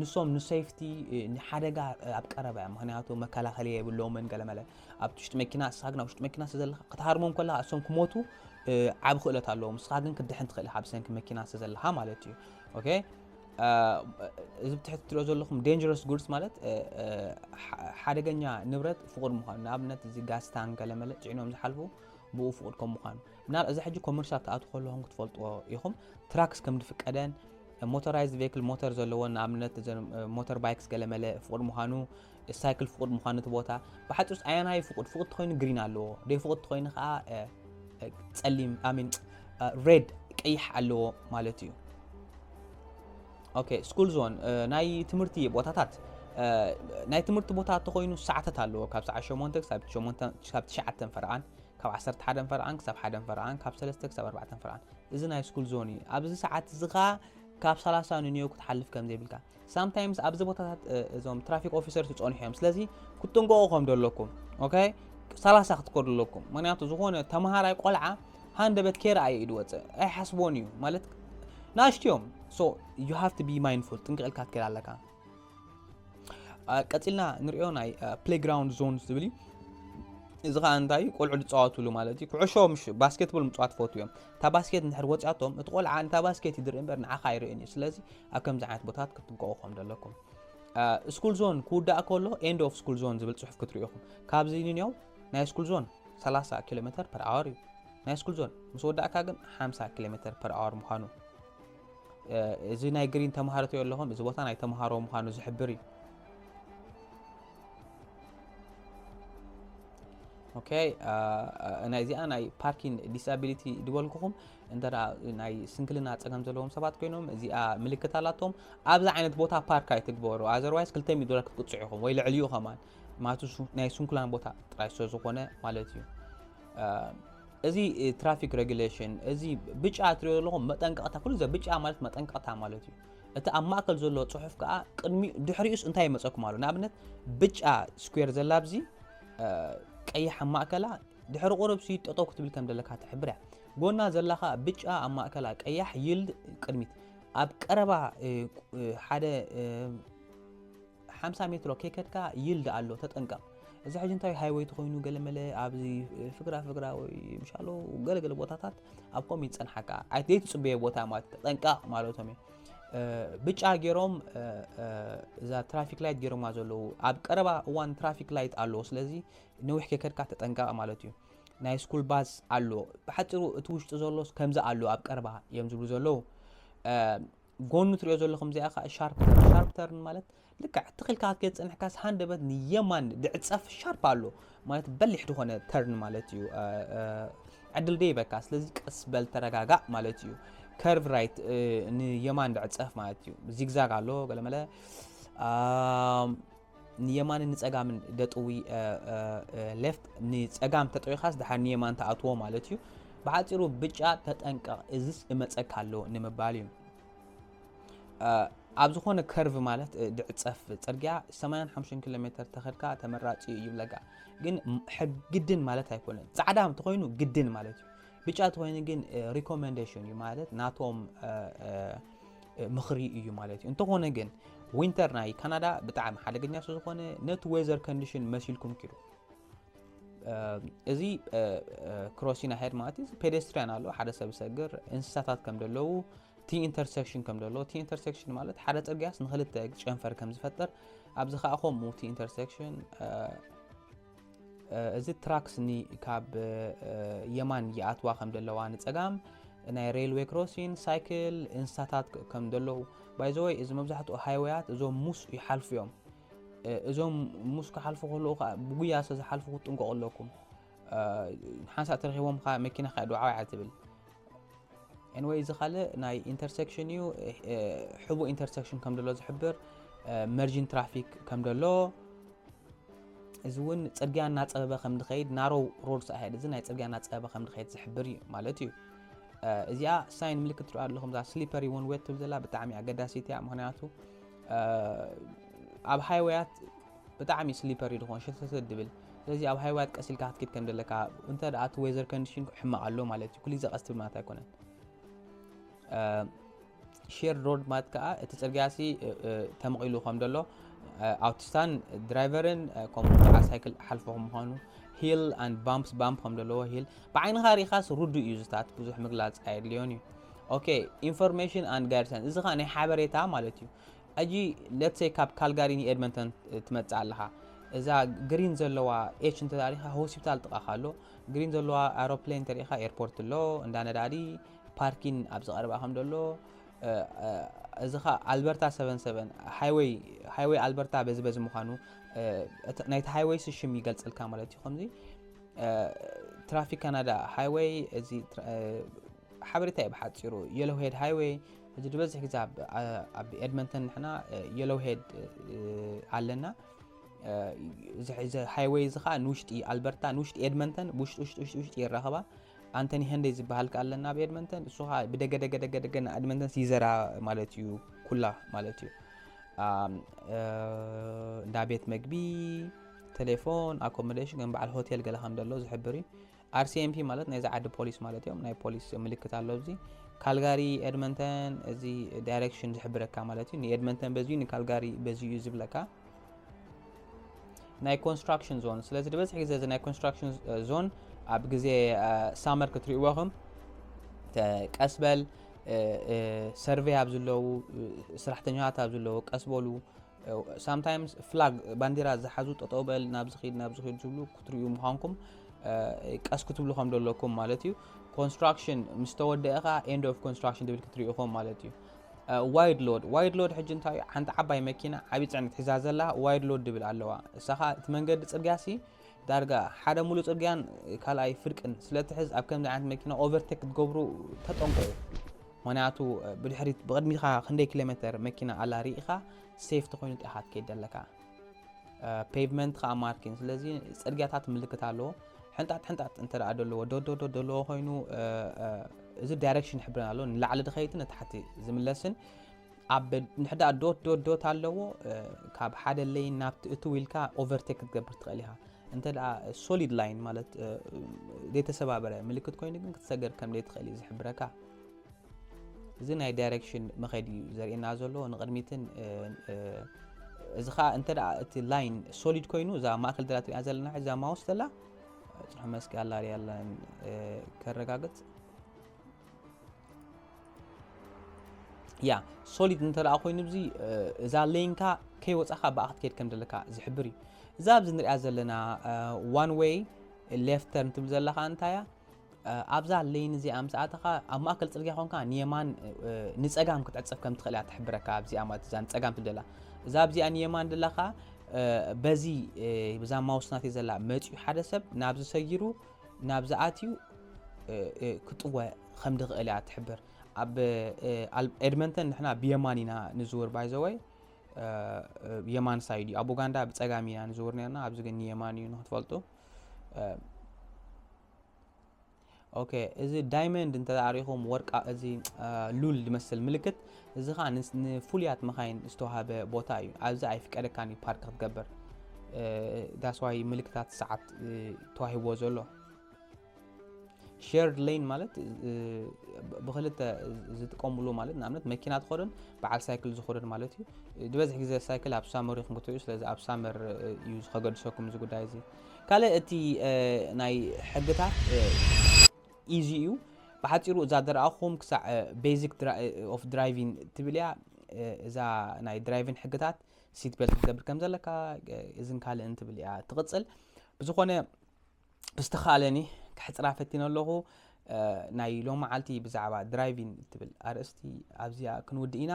ንሶም ንሴፍቲ ንሓደጋ ኣብ ቀረባ እዮም ምክንያቱ መከላኸሊ የብሎምን ገለመለ ኣብ ውሽጢ መኪና ንስኻ ግን ኣብ ውሽጢ መኪና ስለዘለኻ ክትሃርሞም ከለኻ እሶም ክሞቱ ዓብ ክእለት ኣለዎም ንስኻ ግን ክትድሕን ትኽእል ኢኻ ብሰንኪ መኪና ስለዘለኻ ማለት እዩ ኦኬ እዚ ብትሕቲ ትሪኦ ዘለኹም ዴንጀረስ ጉድስ ማለት ሓደገኛ ንብረት ፍቑድ ምዃኑ ንኣብነት እዚ ጋስታን ገለመለ ፅዒኖም ዝሓልፉ ብኡ ፍቑድ ከም ምዃኑ ምና እዚ ሕጂ ኮመርሻል ክኣት ከለኹም ክትፈልጥዎ ኢኹም ትራክስ ከም ዝፍቀደን ሞተራይዝ ቬክል ሞተር ዘለዎን ንኣብነት ሞተር ባይክስ ገለመለ ፍቑድ ምዃኑ ሳይክል ፍቁድ ምዃኑ እቲ ቦታ ብሓጺሩስ ኣየናይ እዩ ፍቁድ ፍቁድ ተኮይኑ ግሪን ኣለዎ ደይ ፍቁድ ተኮይኑ ከዓ ጸሊም ኣሚን ሬድ ቀይሕ ኣለዎ ማለት እዩ ኦኬ ስኩል ዞን ናይ ትምህርቲ ቦታታት ናይ ትምህርቲ ቦታ ተኮይኑ ሰዓታት ኣለዎ ካብ ሰዓት 8 ክሳብ 9 ፈርቓን ካብ 11 ፈርቓን ክሳብ 1 ፈርቓን ካብ 3 ክሳብ 4 ፈርቓን እዚ ናይ ስኩል ዞን እዩ ኣብዚ ሰዓት እዚ ከዓ ካብ 30 ንንዮ ክትሓልፍ ከም ዘይብልካ ሳምታይምስ ኣብዚ ቦታታት እዞም ትራፊክ ኦፊሰርስ ይፀንሑ እዮም ስለዚ ክትጥንቀቑ ከም ዘለኩም ኦኬ ሰላሳ ክትከዱ ኣለኩም ምክንያቱ ዝኾነ ተምሃራይ ቆልዓ ሃንደበት ከይረኣየ እዩ ዝወፅእ ኣይሓስቦን እዩ ማለት ናእሽቱ እዮም ሶ ዩ ሃቭ ቢ ማይንፉል ጥንቅቕ ኢልካ ትከይድ ኣለካ ቀፂልና ንሪኦ ናይ ፕሌግራውንድ ዞን ዝብል እዩ እዚ ከዓ እንታይ እዩ ቆልዑ ዝፃወትሉ ማለት እዩ ኩዕሾ ምስ ባስኬትቦል ምፅዋት ፈትዉ እዮም እታ ባስኬት እንድሕር ወጺኣቶም እቲ ቆልዓ ነታ ባስኬት እዩ ዝርኢ እምበር ንዓኻ ኣይርእን እዩ ስለዚ ኣብ ከምዚ ዓይነት ቦታት ክትጥንቀቑ ከም ዘለኩም ስኩል ዞን ክውዳእ ከሎ ኤንድ ኦፍ ስኩል ዞን ዝብል ጽሑፍ ክትርኢ ኢኹም ካብዚ ንንዮም ናይ ስኩል ዞን 30 ኪሎ ሜተር ፐር ኣወር እዩ ናይ ስኩል ዞን ምስ ወዳእካ ግን 50 ኪሎ ሜተር ፐር ኣወር ምዃኑ እዚ ናይ ግሪን ተምሃሮ ኣለኹም እዚ ቦታ ናይ ተምሃሮ ምዃኑ ዝሕብር እዩ ኦኬ ናይ እዚኣ ናይ ፓርኪን ዲስቢሊቲ ዝበልኩኹም እንተ ናይ ስንክልና ፀገም ዘለዎም ሰባት ኮይኖም እዚኣ ምልክት ኣላቶም ኣብዚ ዓይነት ቦታ ፓርክ ኣይትግበሩ ኣዘርዋይስ ክልተ ሚእቲ ዶላር ክትቅፅዑ ኢኹም ወይ ልዕሊ ዩ ከማን ማለት ናይ ስንኩላን ቦታ ጥራይ ስለ ዝኾነ ማለት እዩ እዚ ትራፊክ ሬጉሌሽን እዚ ብጫ ትሪኦ ዘለኹም መጠንቀቕታ ኩሉ ዘ ብጫ ማለት መጠንቀቕታ ማለት እዩ እቲ ኣብ ማእከል ዘሎ ጽሑፍ ከኣ ቅድሚኡ ድሕሪኡስ እንታይ ይመጸኩም ኣሎ ንኣብነት ብጫ ስኩዌር ዘላ ኣብዚ ቀይሕ ኣብ ማእከላ ድሕሪ ቁርብ ሲ ጠጠው ክትብል ከም ዘለካ ትሕብር እያ ጎና ዘላ ከኣ ብጫ ኣብ ማእከላ ቀያሕ ይልድ ቅድሚት ኣብ ቀረባ ሓደ ሓምሳ ሜትሮ ከይከድካ ይልዲ ኣሎ ተጠንቀቕ። እዚ ሕጂ እንታይ ሃይወይ ተኾይኑ ገለመለ ኣብዚ ፍግራ ፍግራ ወይ ምሻሎ ገለገለ ቦታታት ኣብ ከምኡ ይጸንሓካ ኣይ ዘይትጽበዮ ቦታ ማለት ተጠንቀቕ ማለቶም እዩ። ብጫ ገይሮም እዛ ትራፊክ ላይት ገይሮማ ዘለዉ ኣብ ቀረባ እዋን ትራፊክ ላይት ኣለዎ ስለዚ ነዊሕ ከይከድካ ተጠንቀቕ ማለት እዩ ናይ ስኩል ባስ ኣሎ ብሓፂሩ እቲ ውሽጢ ዘሎስ ከምዚ ኣሎ ኣብ ቀረባ እዮም ዝብሉ ዘለዉ ጎኑ ትሪኦ ዘለኹም እዚኣ ከዓ ሻርፕ ተርን ሻርፕ ተርን ማለት ልክዕ ትኽ ኢልካ ክትከይድ ፀኒሕካስ ሃንደበት ንየማን ድዕፀፍ ሻርፕ ኣሎ ማለት በሊሕ ዝኾነ ተርን ማለት እዩ ዕድል ደ ይበካ ስለዚ ቀስ በል ተረጋጋእ ማለት እዩ ከርቭ ራይት ንየማን ድዕፀፍ ማለት እዩ ዚግዛግ ኣሎ ገለመለ ንየማንን ንጸጋምን ደጥዊ፣ Left፣ ንጸጋም ተጠዊኻስ ድሓር ንየማን ትኣትዎ ማለት እዩ። ብሓጺሩ ብጫ ተጠንቀቕ እዝስ እመጸካ ኣሎ ንምባል እዩ። ኣብ ዝኾነ ከርቭ ማለት ድዕጸፍ ጽርግያ 85 ኪሎ ሜተር ተኸድካ ተመራጺ እዩ ይብለካ። ግን ሕግድን ማለት ኣይኮነን። ጻዕዳ እንተኾይኑ ግድን ማለት እዩ። ብጫ ተኾይኑ ግን ሪኮመንዴሽን እዩ ማለት ናቶም ምኽሪ እዩ ማለት እዩ እንተኾነ ግን ዊንተር ናይ ካናዳ ብጣዕሚ ሓደገኛ ስለዝኾነ ነቲ ዌዘር ኮንዲሽን መሲልኩም ኪዱ እዚ ክሮሲና ሄድ ማለት እዩ ፔደስትሪያን ኣሎ ሓደ ሰብ ዝሰግር እንስሳታት ከም ዘለዉ እቲ ኢንተርሴክሽን ከም ዘለዎ እቲ ኢንተርሴክሽን ማለት ሓደ ፅርግያስ ንክልተ ጨንፈር ከም ዝፈጥር ኣብዚ ከዓ ከምኡ እቲ ኢንተርሴክሽን እዚ ትራክ ስኒ ካብ የማን ይኣትዋ ከም ዘለዋ ንፀጋም ናይ ሬልዌ ክሮሲን ሳይክል እንስሳታት ከም ዘለዉ ባይዘወይ እዚ መብዛሕትኡ ሃይወያት እዞም ሙስ ይሓልፉ እዮም እዞም ሙስ ክሓልፉ ከለዉ ከዓ ብጉያ ስለ ዝሓልፉ ክትጥንቀቑ ኣለኩም ሓንሳእ ተረኪቦም መኪና ከዓ ዱዓዊ እያ ትብል ኤንወይ እዚ ካልእ ናይ ኢንተርሰክሽን እዩ ሕቡእ ኢንተርሰክሽን ከም ደሎ ዝሕብር መርጂን ትራፊክ ከም ደሎ እዚ እውን ፅርግያ እናፀበበ ከም ዝኸይድ ናሮ ሮድ ሳይድ እዚ ናይ ፅርግያ እናፀበበ ከም ዝኸይድ ዝሕብር እዩ ማለት እዩ እዚኣ ሳይን ምልክት ትርኣ ኣለኹም እዛ ስሊፐሪ ውን ዌት ትብል ዘላ ብጣዕሚ ኣገዳሲት እያ ምክንያቱ ኣብ ሃይወያት ብጣዕሚ ስሊፐሪ እዩ ድኾን ሸተተት ድብል ስለዚ ኣብ ሃይዋያት ቀስ ኢልካ ክትኪድ ከም ደለካ እንተ ደኣ እቲ ዌዘር ኮንዲሽን ሕማቕ ኣሎ ማለት እዩ ኩሉ ግዜ ቀስ ትብል ማለት ኣይኮነን ሼር ሮድ ማለት ከዓ እቲ ፅርግያሲ ተመቒሉ ከም ደሎ ኣውቲስታን ድራይቨርን ከምኡ ከዓ ሳይክል ሓልፎ ከም ምዃኑ ሂል ኣንድ ባምፕስ ባምፕ ከም ዘለዎ ሂል ብዓይንኻ ሪኻስ ርዱእ እዩ ዝታት ብዙሕ ምግላፅ ኣየድልዮን እዩ ኦኬ ኢንፎርሜሽን ኣንድ ጋይድሳን እዚ ከዓ ናይ ሓበሬታ ማለት እዩ ሕጂ let's say ካብ ካልጋሪ ን ኤድመንተን ትመጽእ ኣለኻ እዛ ግሪን ዘለዋ ኤች እንተሪኻ ሆስፒታል ጥቃኻ ኣሎ ግሪን ዘለዋ ኣሮፕሌን ተሪኻ ኤርፖርት ኣሎ እንዳ ነዳዲ ፓርኪን ኣብ ዝቀረባ ከም ደሎ እዚ ኸ ኣልበርታ ሰቨን ሰቨን ሃይወይ ሃይወይ ኣልበርታ በዚ በዚ ምዃኑ ናይቲ ሃይወይ ስሽም ይገልጸልካ ማለት እዩ ከምዚ ትራፊክ ካናዳ ሃይወይ እዚ ሓበሬታ እዩ ብሓፂሩ የሎሄድ ሃይወይ ሕጂ ዝበዝሕ ግዜ ኣብ ኤድመንተን ንሕና የሎው ሄድ ኣለና እዚ ሃይወይ እዚ ከዓ ንውሽጢ ኣልበርታ ንውሽጢ ኤድመንተን ውሽጢ ውሽጢ ውሽጢ ውሽጢ ይራኸባ ኣንተኒ ሄንደይ ዝበሃል ከዓ ኣለና ኣብ ኤድመንተን እሱ ከዓ ብደገ ደገ ደገ ደገ ና ኤድመንተን ሲዘራ ማለት እዩ ኩላ ማለት እዩ እንዳ ቤት መግቢ ቴሌፎን ኣኮሞዴሽን ከም በዓል ሆቴል ገለ ከም ዘሎ ዝሕብር እዩ RCMP ማለት ናይዚ ዓዲ ፖሊስ ማለት እዮም ናይ ፖሊስ ምልክት ኣሎ ኣብዚ ካልጋሪ ኤድመንተን እዚ ዳይሬክሽን ዝሕብረካ ማለት እዩ ንኤድመንተን በዚዩ ንካልጋሪ በዚዩ እዩ ዝብለካ ናይ ኮንስትራክሽን ዞን ስለዚ ዝበዝሕ ግዜ እዚ ናይ ኮንስትራክሽን ዞን ኣብ ግዜ ሳመር ክትርእዎኹም ቀስ በል ሰርቬይ ኣብ ዘለዉ ስራሕተኛታት ኣብ ዘለዉ ቀስ በሉ ሳምታይምስ ፍላግ ባንዲራ ዝሓዙ ጠጠው በል ናብዚ ኪድ ናብዚ ኪድ ዝብሉ ክትሪኡ ምዃንኩም ቀስ ክትብሉ ከም ዘለኩም ማለት እዩ ኮንስትራክሽን ምስ ተወደአ ከዓ ኤንድ ኦፍ ኮንስትራክሽን ትብል ክትሪኢኹም ማለት እዩ ዋይድ ሎድ ዋይድ ሎድ ሕጂ እንታይ እዩ ሓንቲ ዓባይ መኪና ዓብዪ ፅዕነት ሒዛ ዘላ ዋይድ ሎድ ድብል ኣለዋ እሳኻ እቲ መንገዲ ፅርግያ ሲ ዳርጋ ሓደ ሙሉእ ጽርግያን ካልኣይ ፍርቅን ስለትሕዝ ኣብ ከምዚ ዓይነት መኪና ኦቨርቴክ ክትገብሩ ተጠንቀቑ። ምክንያቱ ብድሕሪት ብቕድሚትካ ክንደይ ኪሎ ሜተር መኪና ኣላ ርኢኻ ሴፍቲ ኮይኑ ጥራሕ ክትከይድ ዘለካ ፔቭመንት ከዓ ማርኪን ስለዚ ጽርግያታት ምልክት ኣለዎ ሕንጣጥ ሕንጣጥ እንተ ደኣ ደለዎ ዶዶዶ ደለዎ ኮይኑ እዚ ዳይሬክሽን ይሕብረና ኣሎ ንላዕሊ ድኸይትን ንታሕቲ ዝምለስን ኣብ ንሕዳ ዶት ዶት ዶት ኣለዎ ካብ ሓደ ለይን ናብቲ እትው ኢልካ ኦቨርቴክ ክትገብር ትኽእል ኢኻ እንተ ሶሊድ ላይን ማለት ዘይተሰባበረ ምልክት ኮይኑ ግን ክትሰገር ከም ዘይትኽእል እዩ ዝሕብረካ እዚ ናይ ዳይሬክሽን መኸዲ እዩ ዘርእየና ዘሎ ንቅድሚትን እዚ ከዓ እንተ እቲ ላይን ሶሊድ ኮይኑ እዛ ማእከል ዘላ ትሪኣ ዘለና እዛ ማውስ ዘላ ፅሑ መስኪ ኣላ ያለን ከረጋግፅ ያ ሶሊድ እንተ ኮይኑ ዚ እዛ ሌንካ ከይወፃኻ ብኣ ክትከድ ከም ዘለካ ዝሕብር እዩ እዛ ኣብዚ ንሪኣ ዘለና ዋን ወይ ሌፍተርን ትብል ዘለካ እንታይ እያ ኣብዛ ሌን እዚኣ ምስ ኣተኻ ኣብ ማእከል ፅርግያ ኮንካ ንየማን ንፀጋም ክትዕፀፍ ከም ትኽእል እያ ትሕብረካ ኣብዚኣ ማለት እዛ ንፀጋም ትብል ዘላ እዛ ኣብዚኣ ንየማን ዘለካ በዚ ብዛ ማውስ ናተይ ዘላ መፅኡ ሓደ ሰብ ናብዚ ሰጊሩ ናብዚ ኣትዩ ክጥወ ከም ድኽእል እያ ትሕብር። ኣብ ኤድመንተን ንሕና ብየማን ኢና ንዝውር ባይዘወይ የማን ሳይድ እዩ ኣብ ኡጋንዳ ብፀጋም ኢና ንዝውር ነርና ኣብዚ ግን ንየማን እዩ ንክትፈልጡ ኦኬ እዚ ዳይመንድ እንተሪኹም ወርቃ እዚ ሉል ዝመስል ምልክት እዚ ከኣ ንፍሉያት መኻይን ዝተዋህበ ቦታ እዩ ኣብዚ ኣይፍቀደካን እዩ ፓርክ ክትገብር ዳስዋይ ምልክታት ሰዓት ተዋሂብዎ ዘሎ ሸርድ ሌን ማለት ብክልተ ዝጥቀምሉ ማለት ንኣብነት መኪና ትኸደን በዓል ሳይክል ዝኸደን ማለት እዩ ዝበዝሕ ግዜ ሳይክል ኣብ ሳመር ይኹም ክትሪኡ ስለዚ ኣብ ሳመር እዩ ዝከገድሰኩም እዚ ጉዳይ እዚ ካልእ እቲ ናይ ሕግታት ኢዚ እዩ ብሓጺሩ እዛ ደርኣኹም ክሳዕ ቤዚክ ኦፍ ድራይቪን ትብል እያ እዛ ናይ ድራይቪን ሕግታት ሲት ቤልት ክትገብር ከም ዘለካ እዝን ካልእን ትብል እያ ትቕጽል ብዝኾነ ብዝተኻለኒ ክሕፅራ ፈቲነ ኣለኹ ናይ ሎ መዓልቲ ብዛዕባ ድራይቪን ትብል ኣርእስቲ ኣብዚኣ ክንውድእ ኢና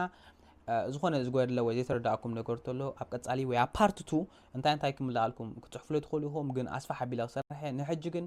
ዝኾነ ዝጎድለ ወይ ዘይተረዳእኩም ነገር ተሎ ኣብ ቀጻሊ ወይ ኣብ ፓርት ቱ እንታይ እንታይ ክምልኣልኩም ክፅሕፍሉ ትኽእሉ ኢኹም ግን ኣስፋሕ ኣቢለ ክሰርሐ ንሕጂ ግን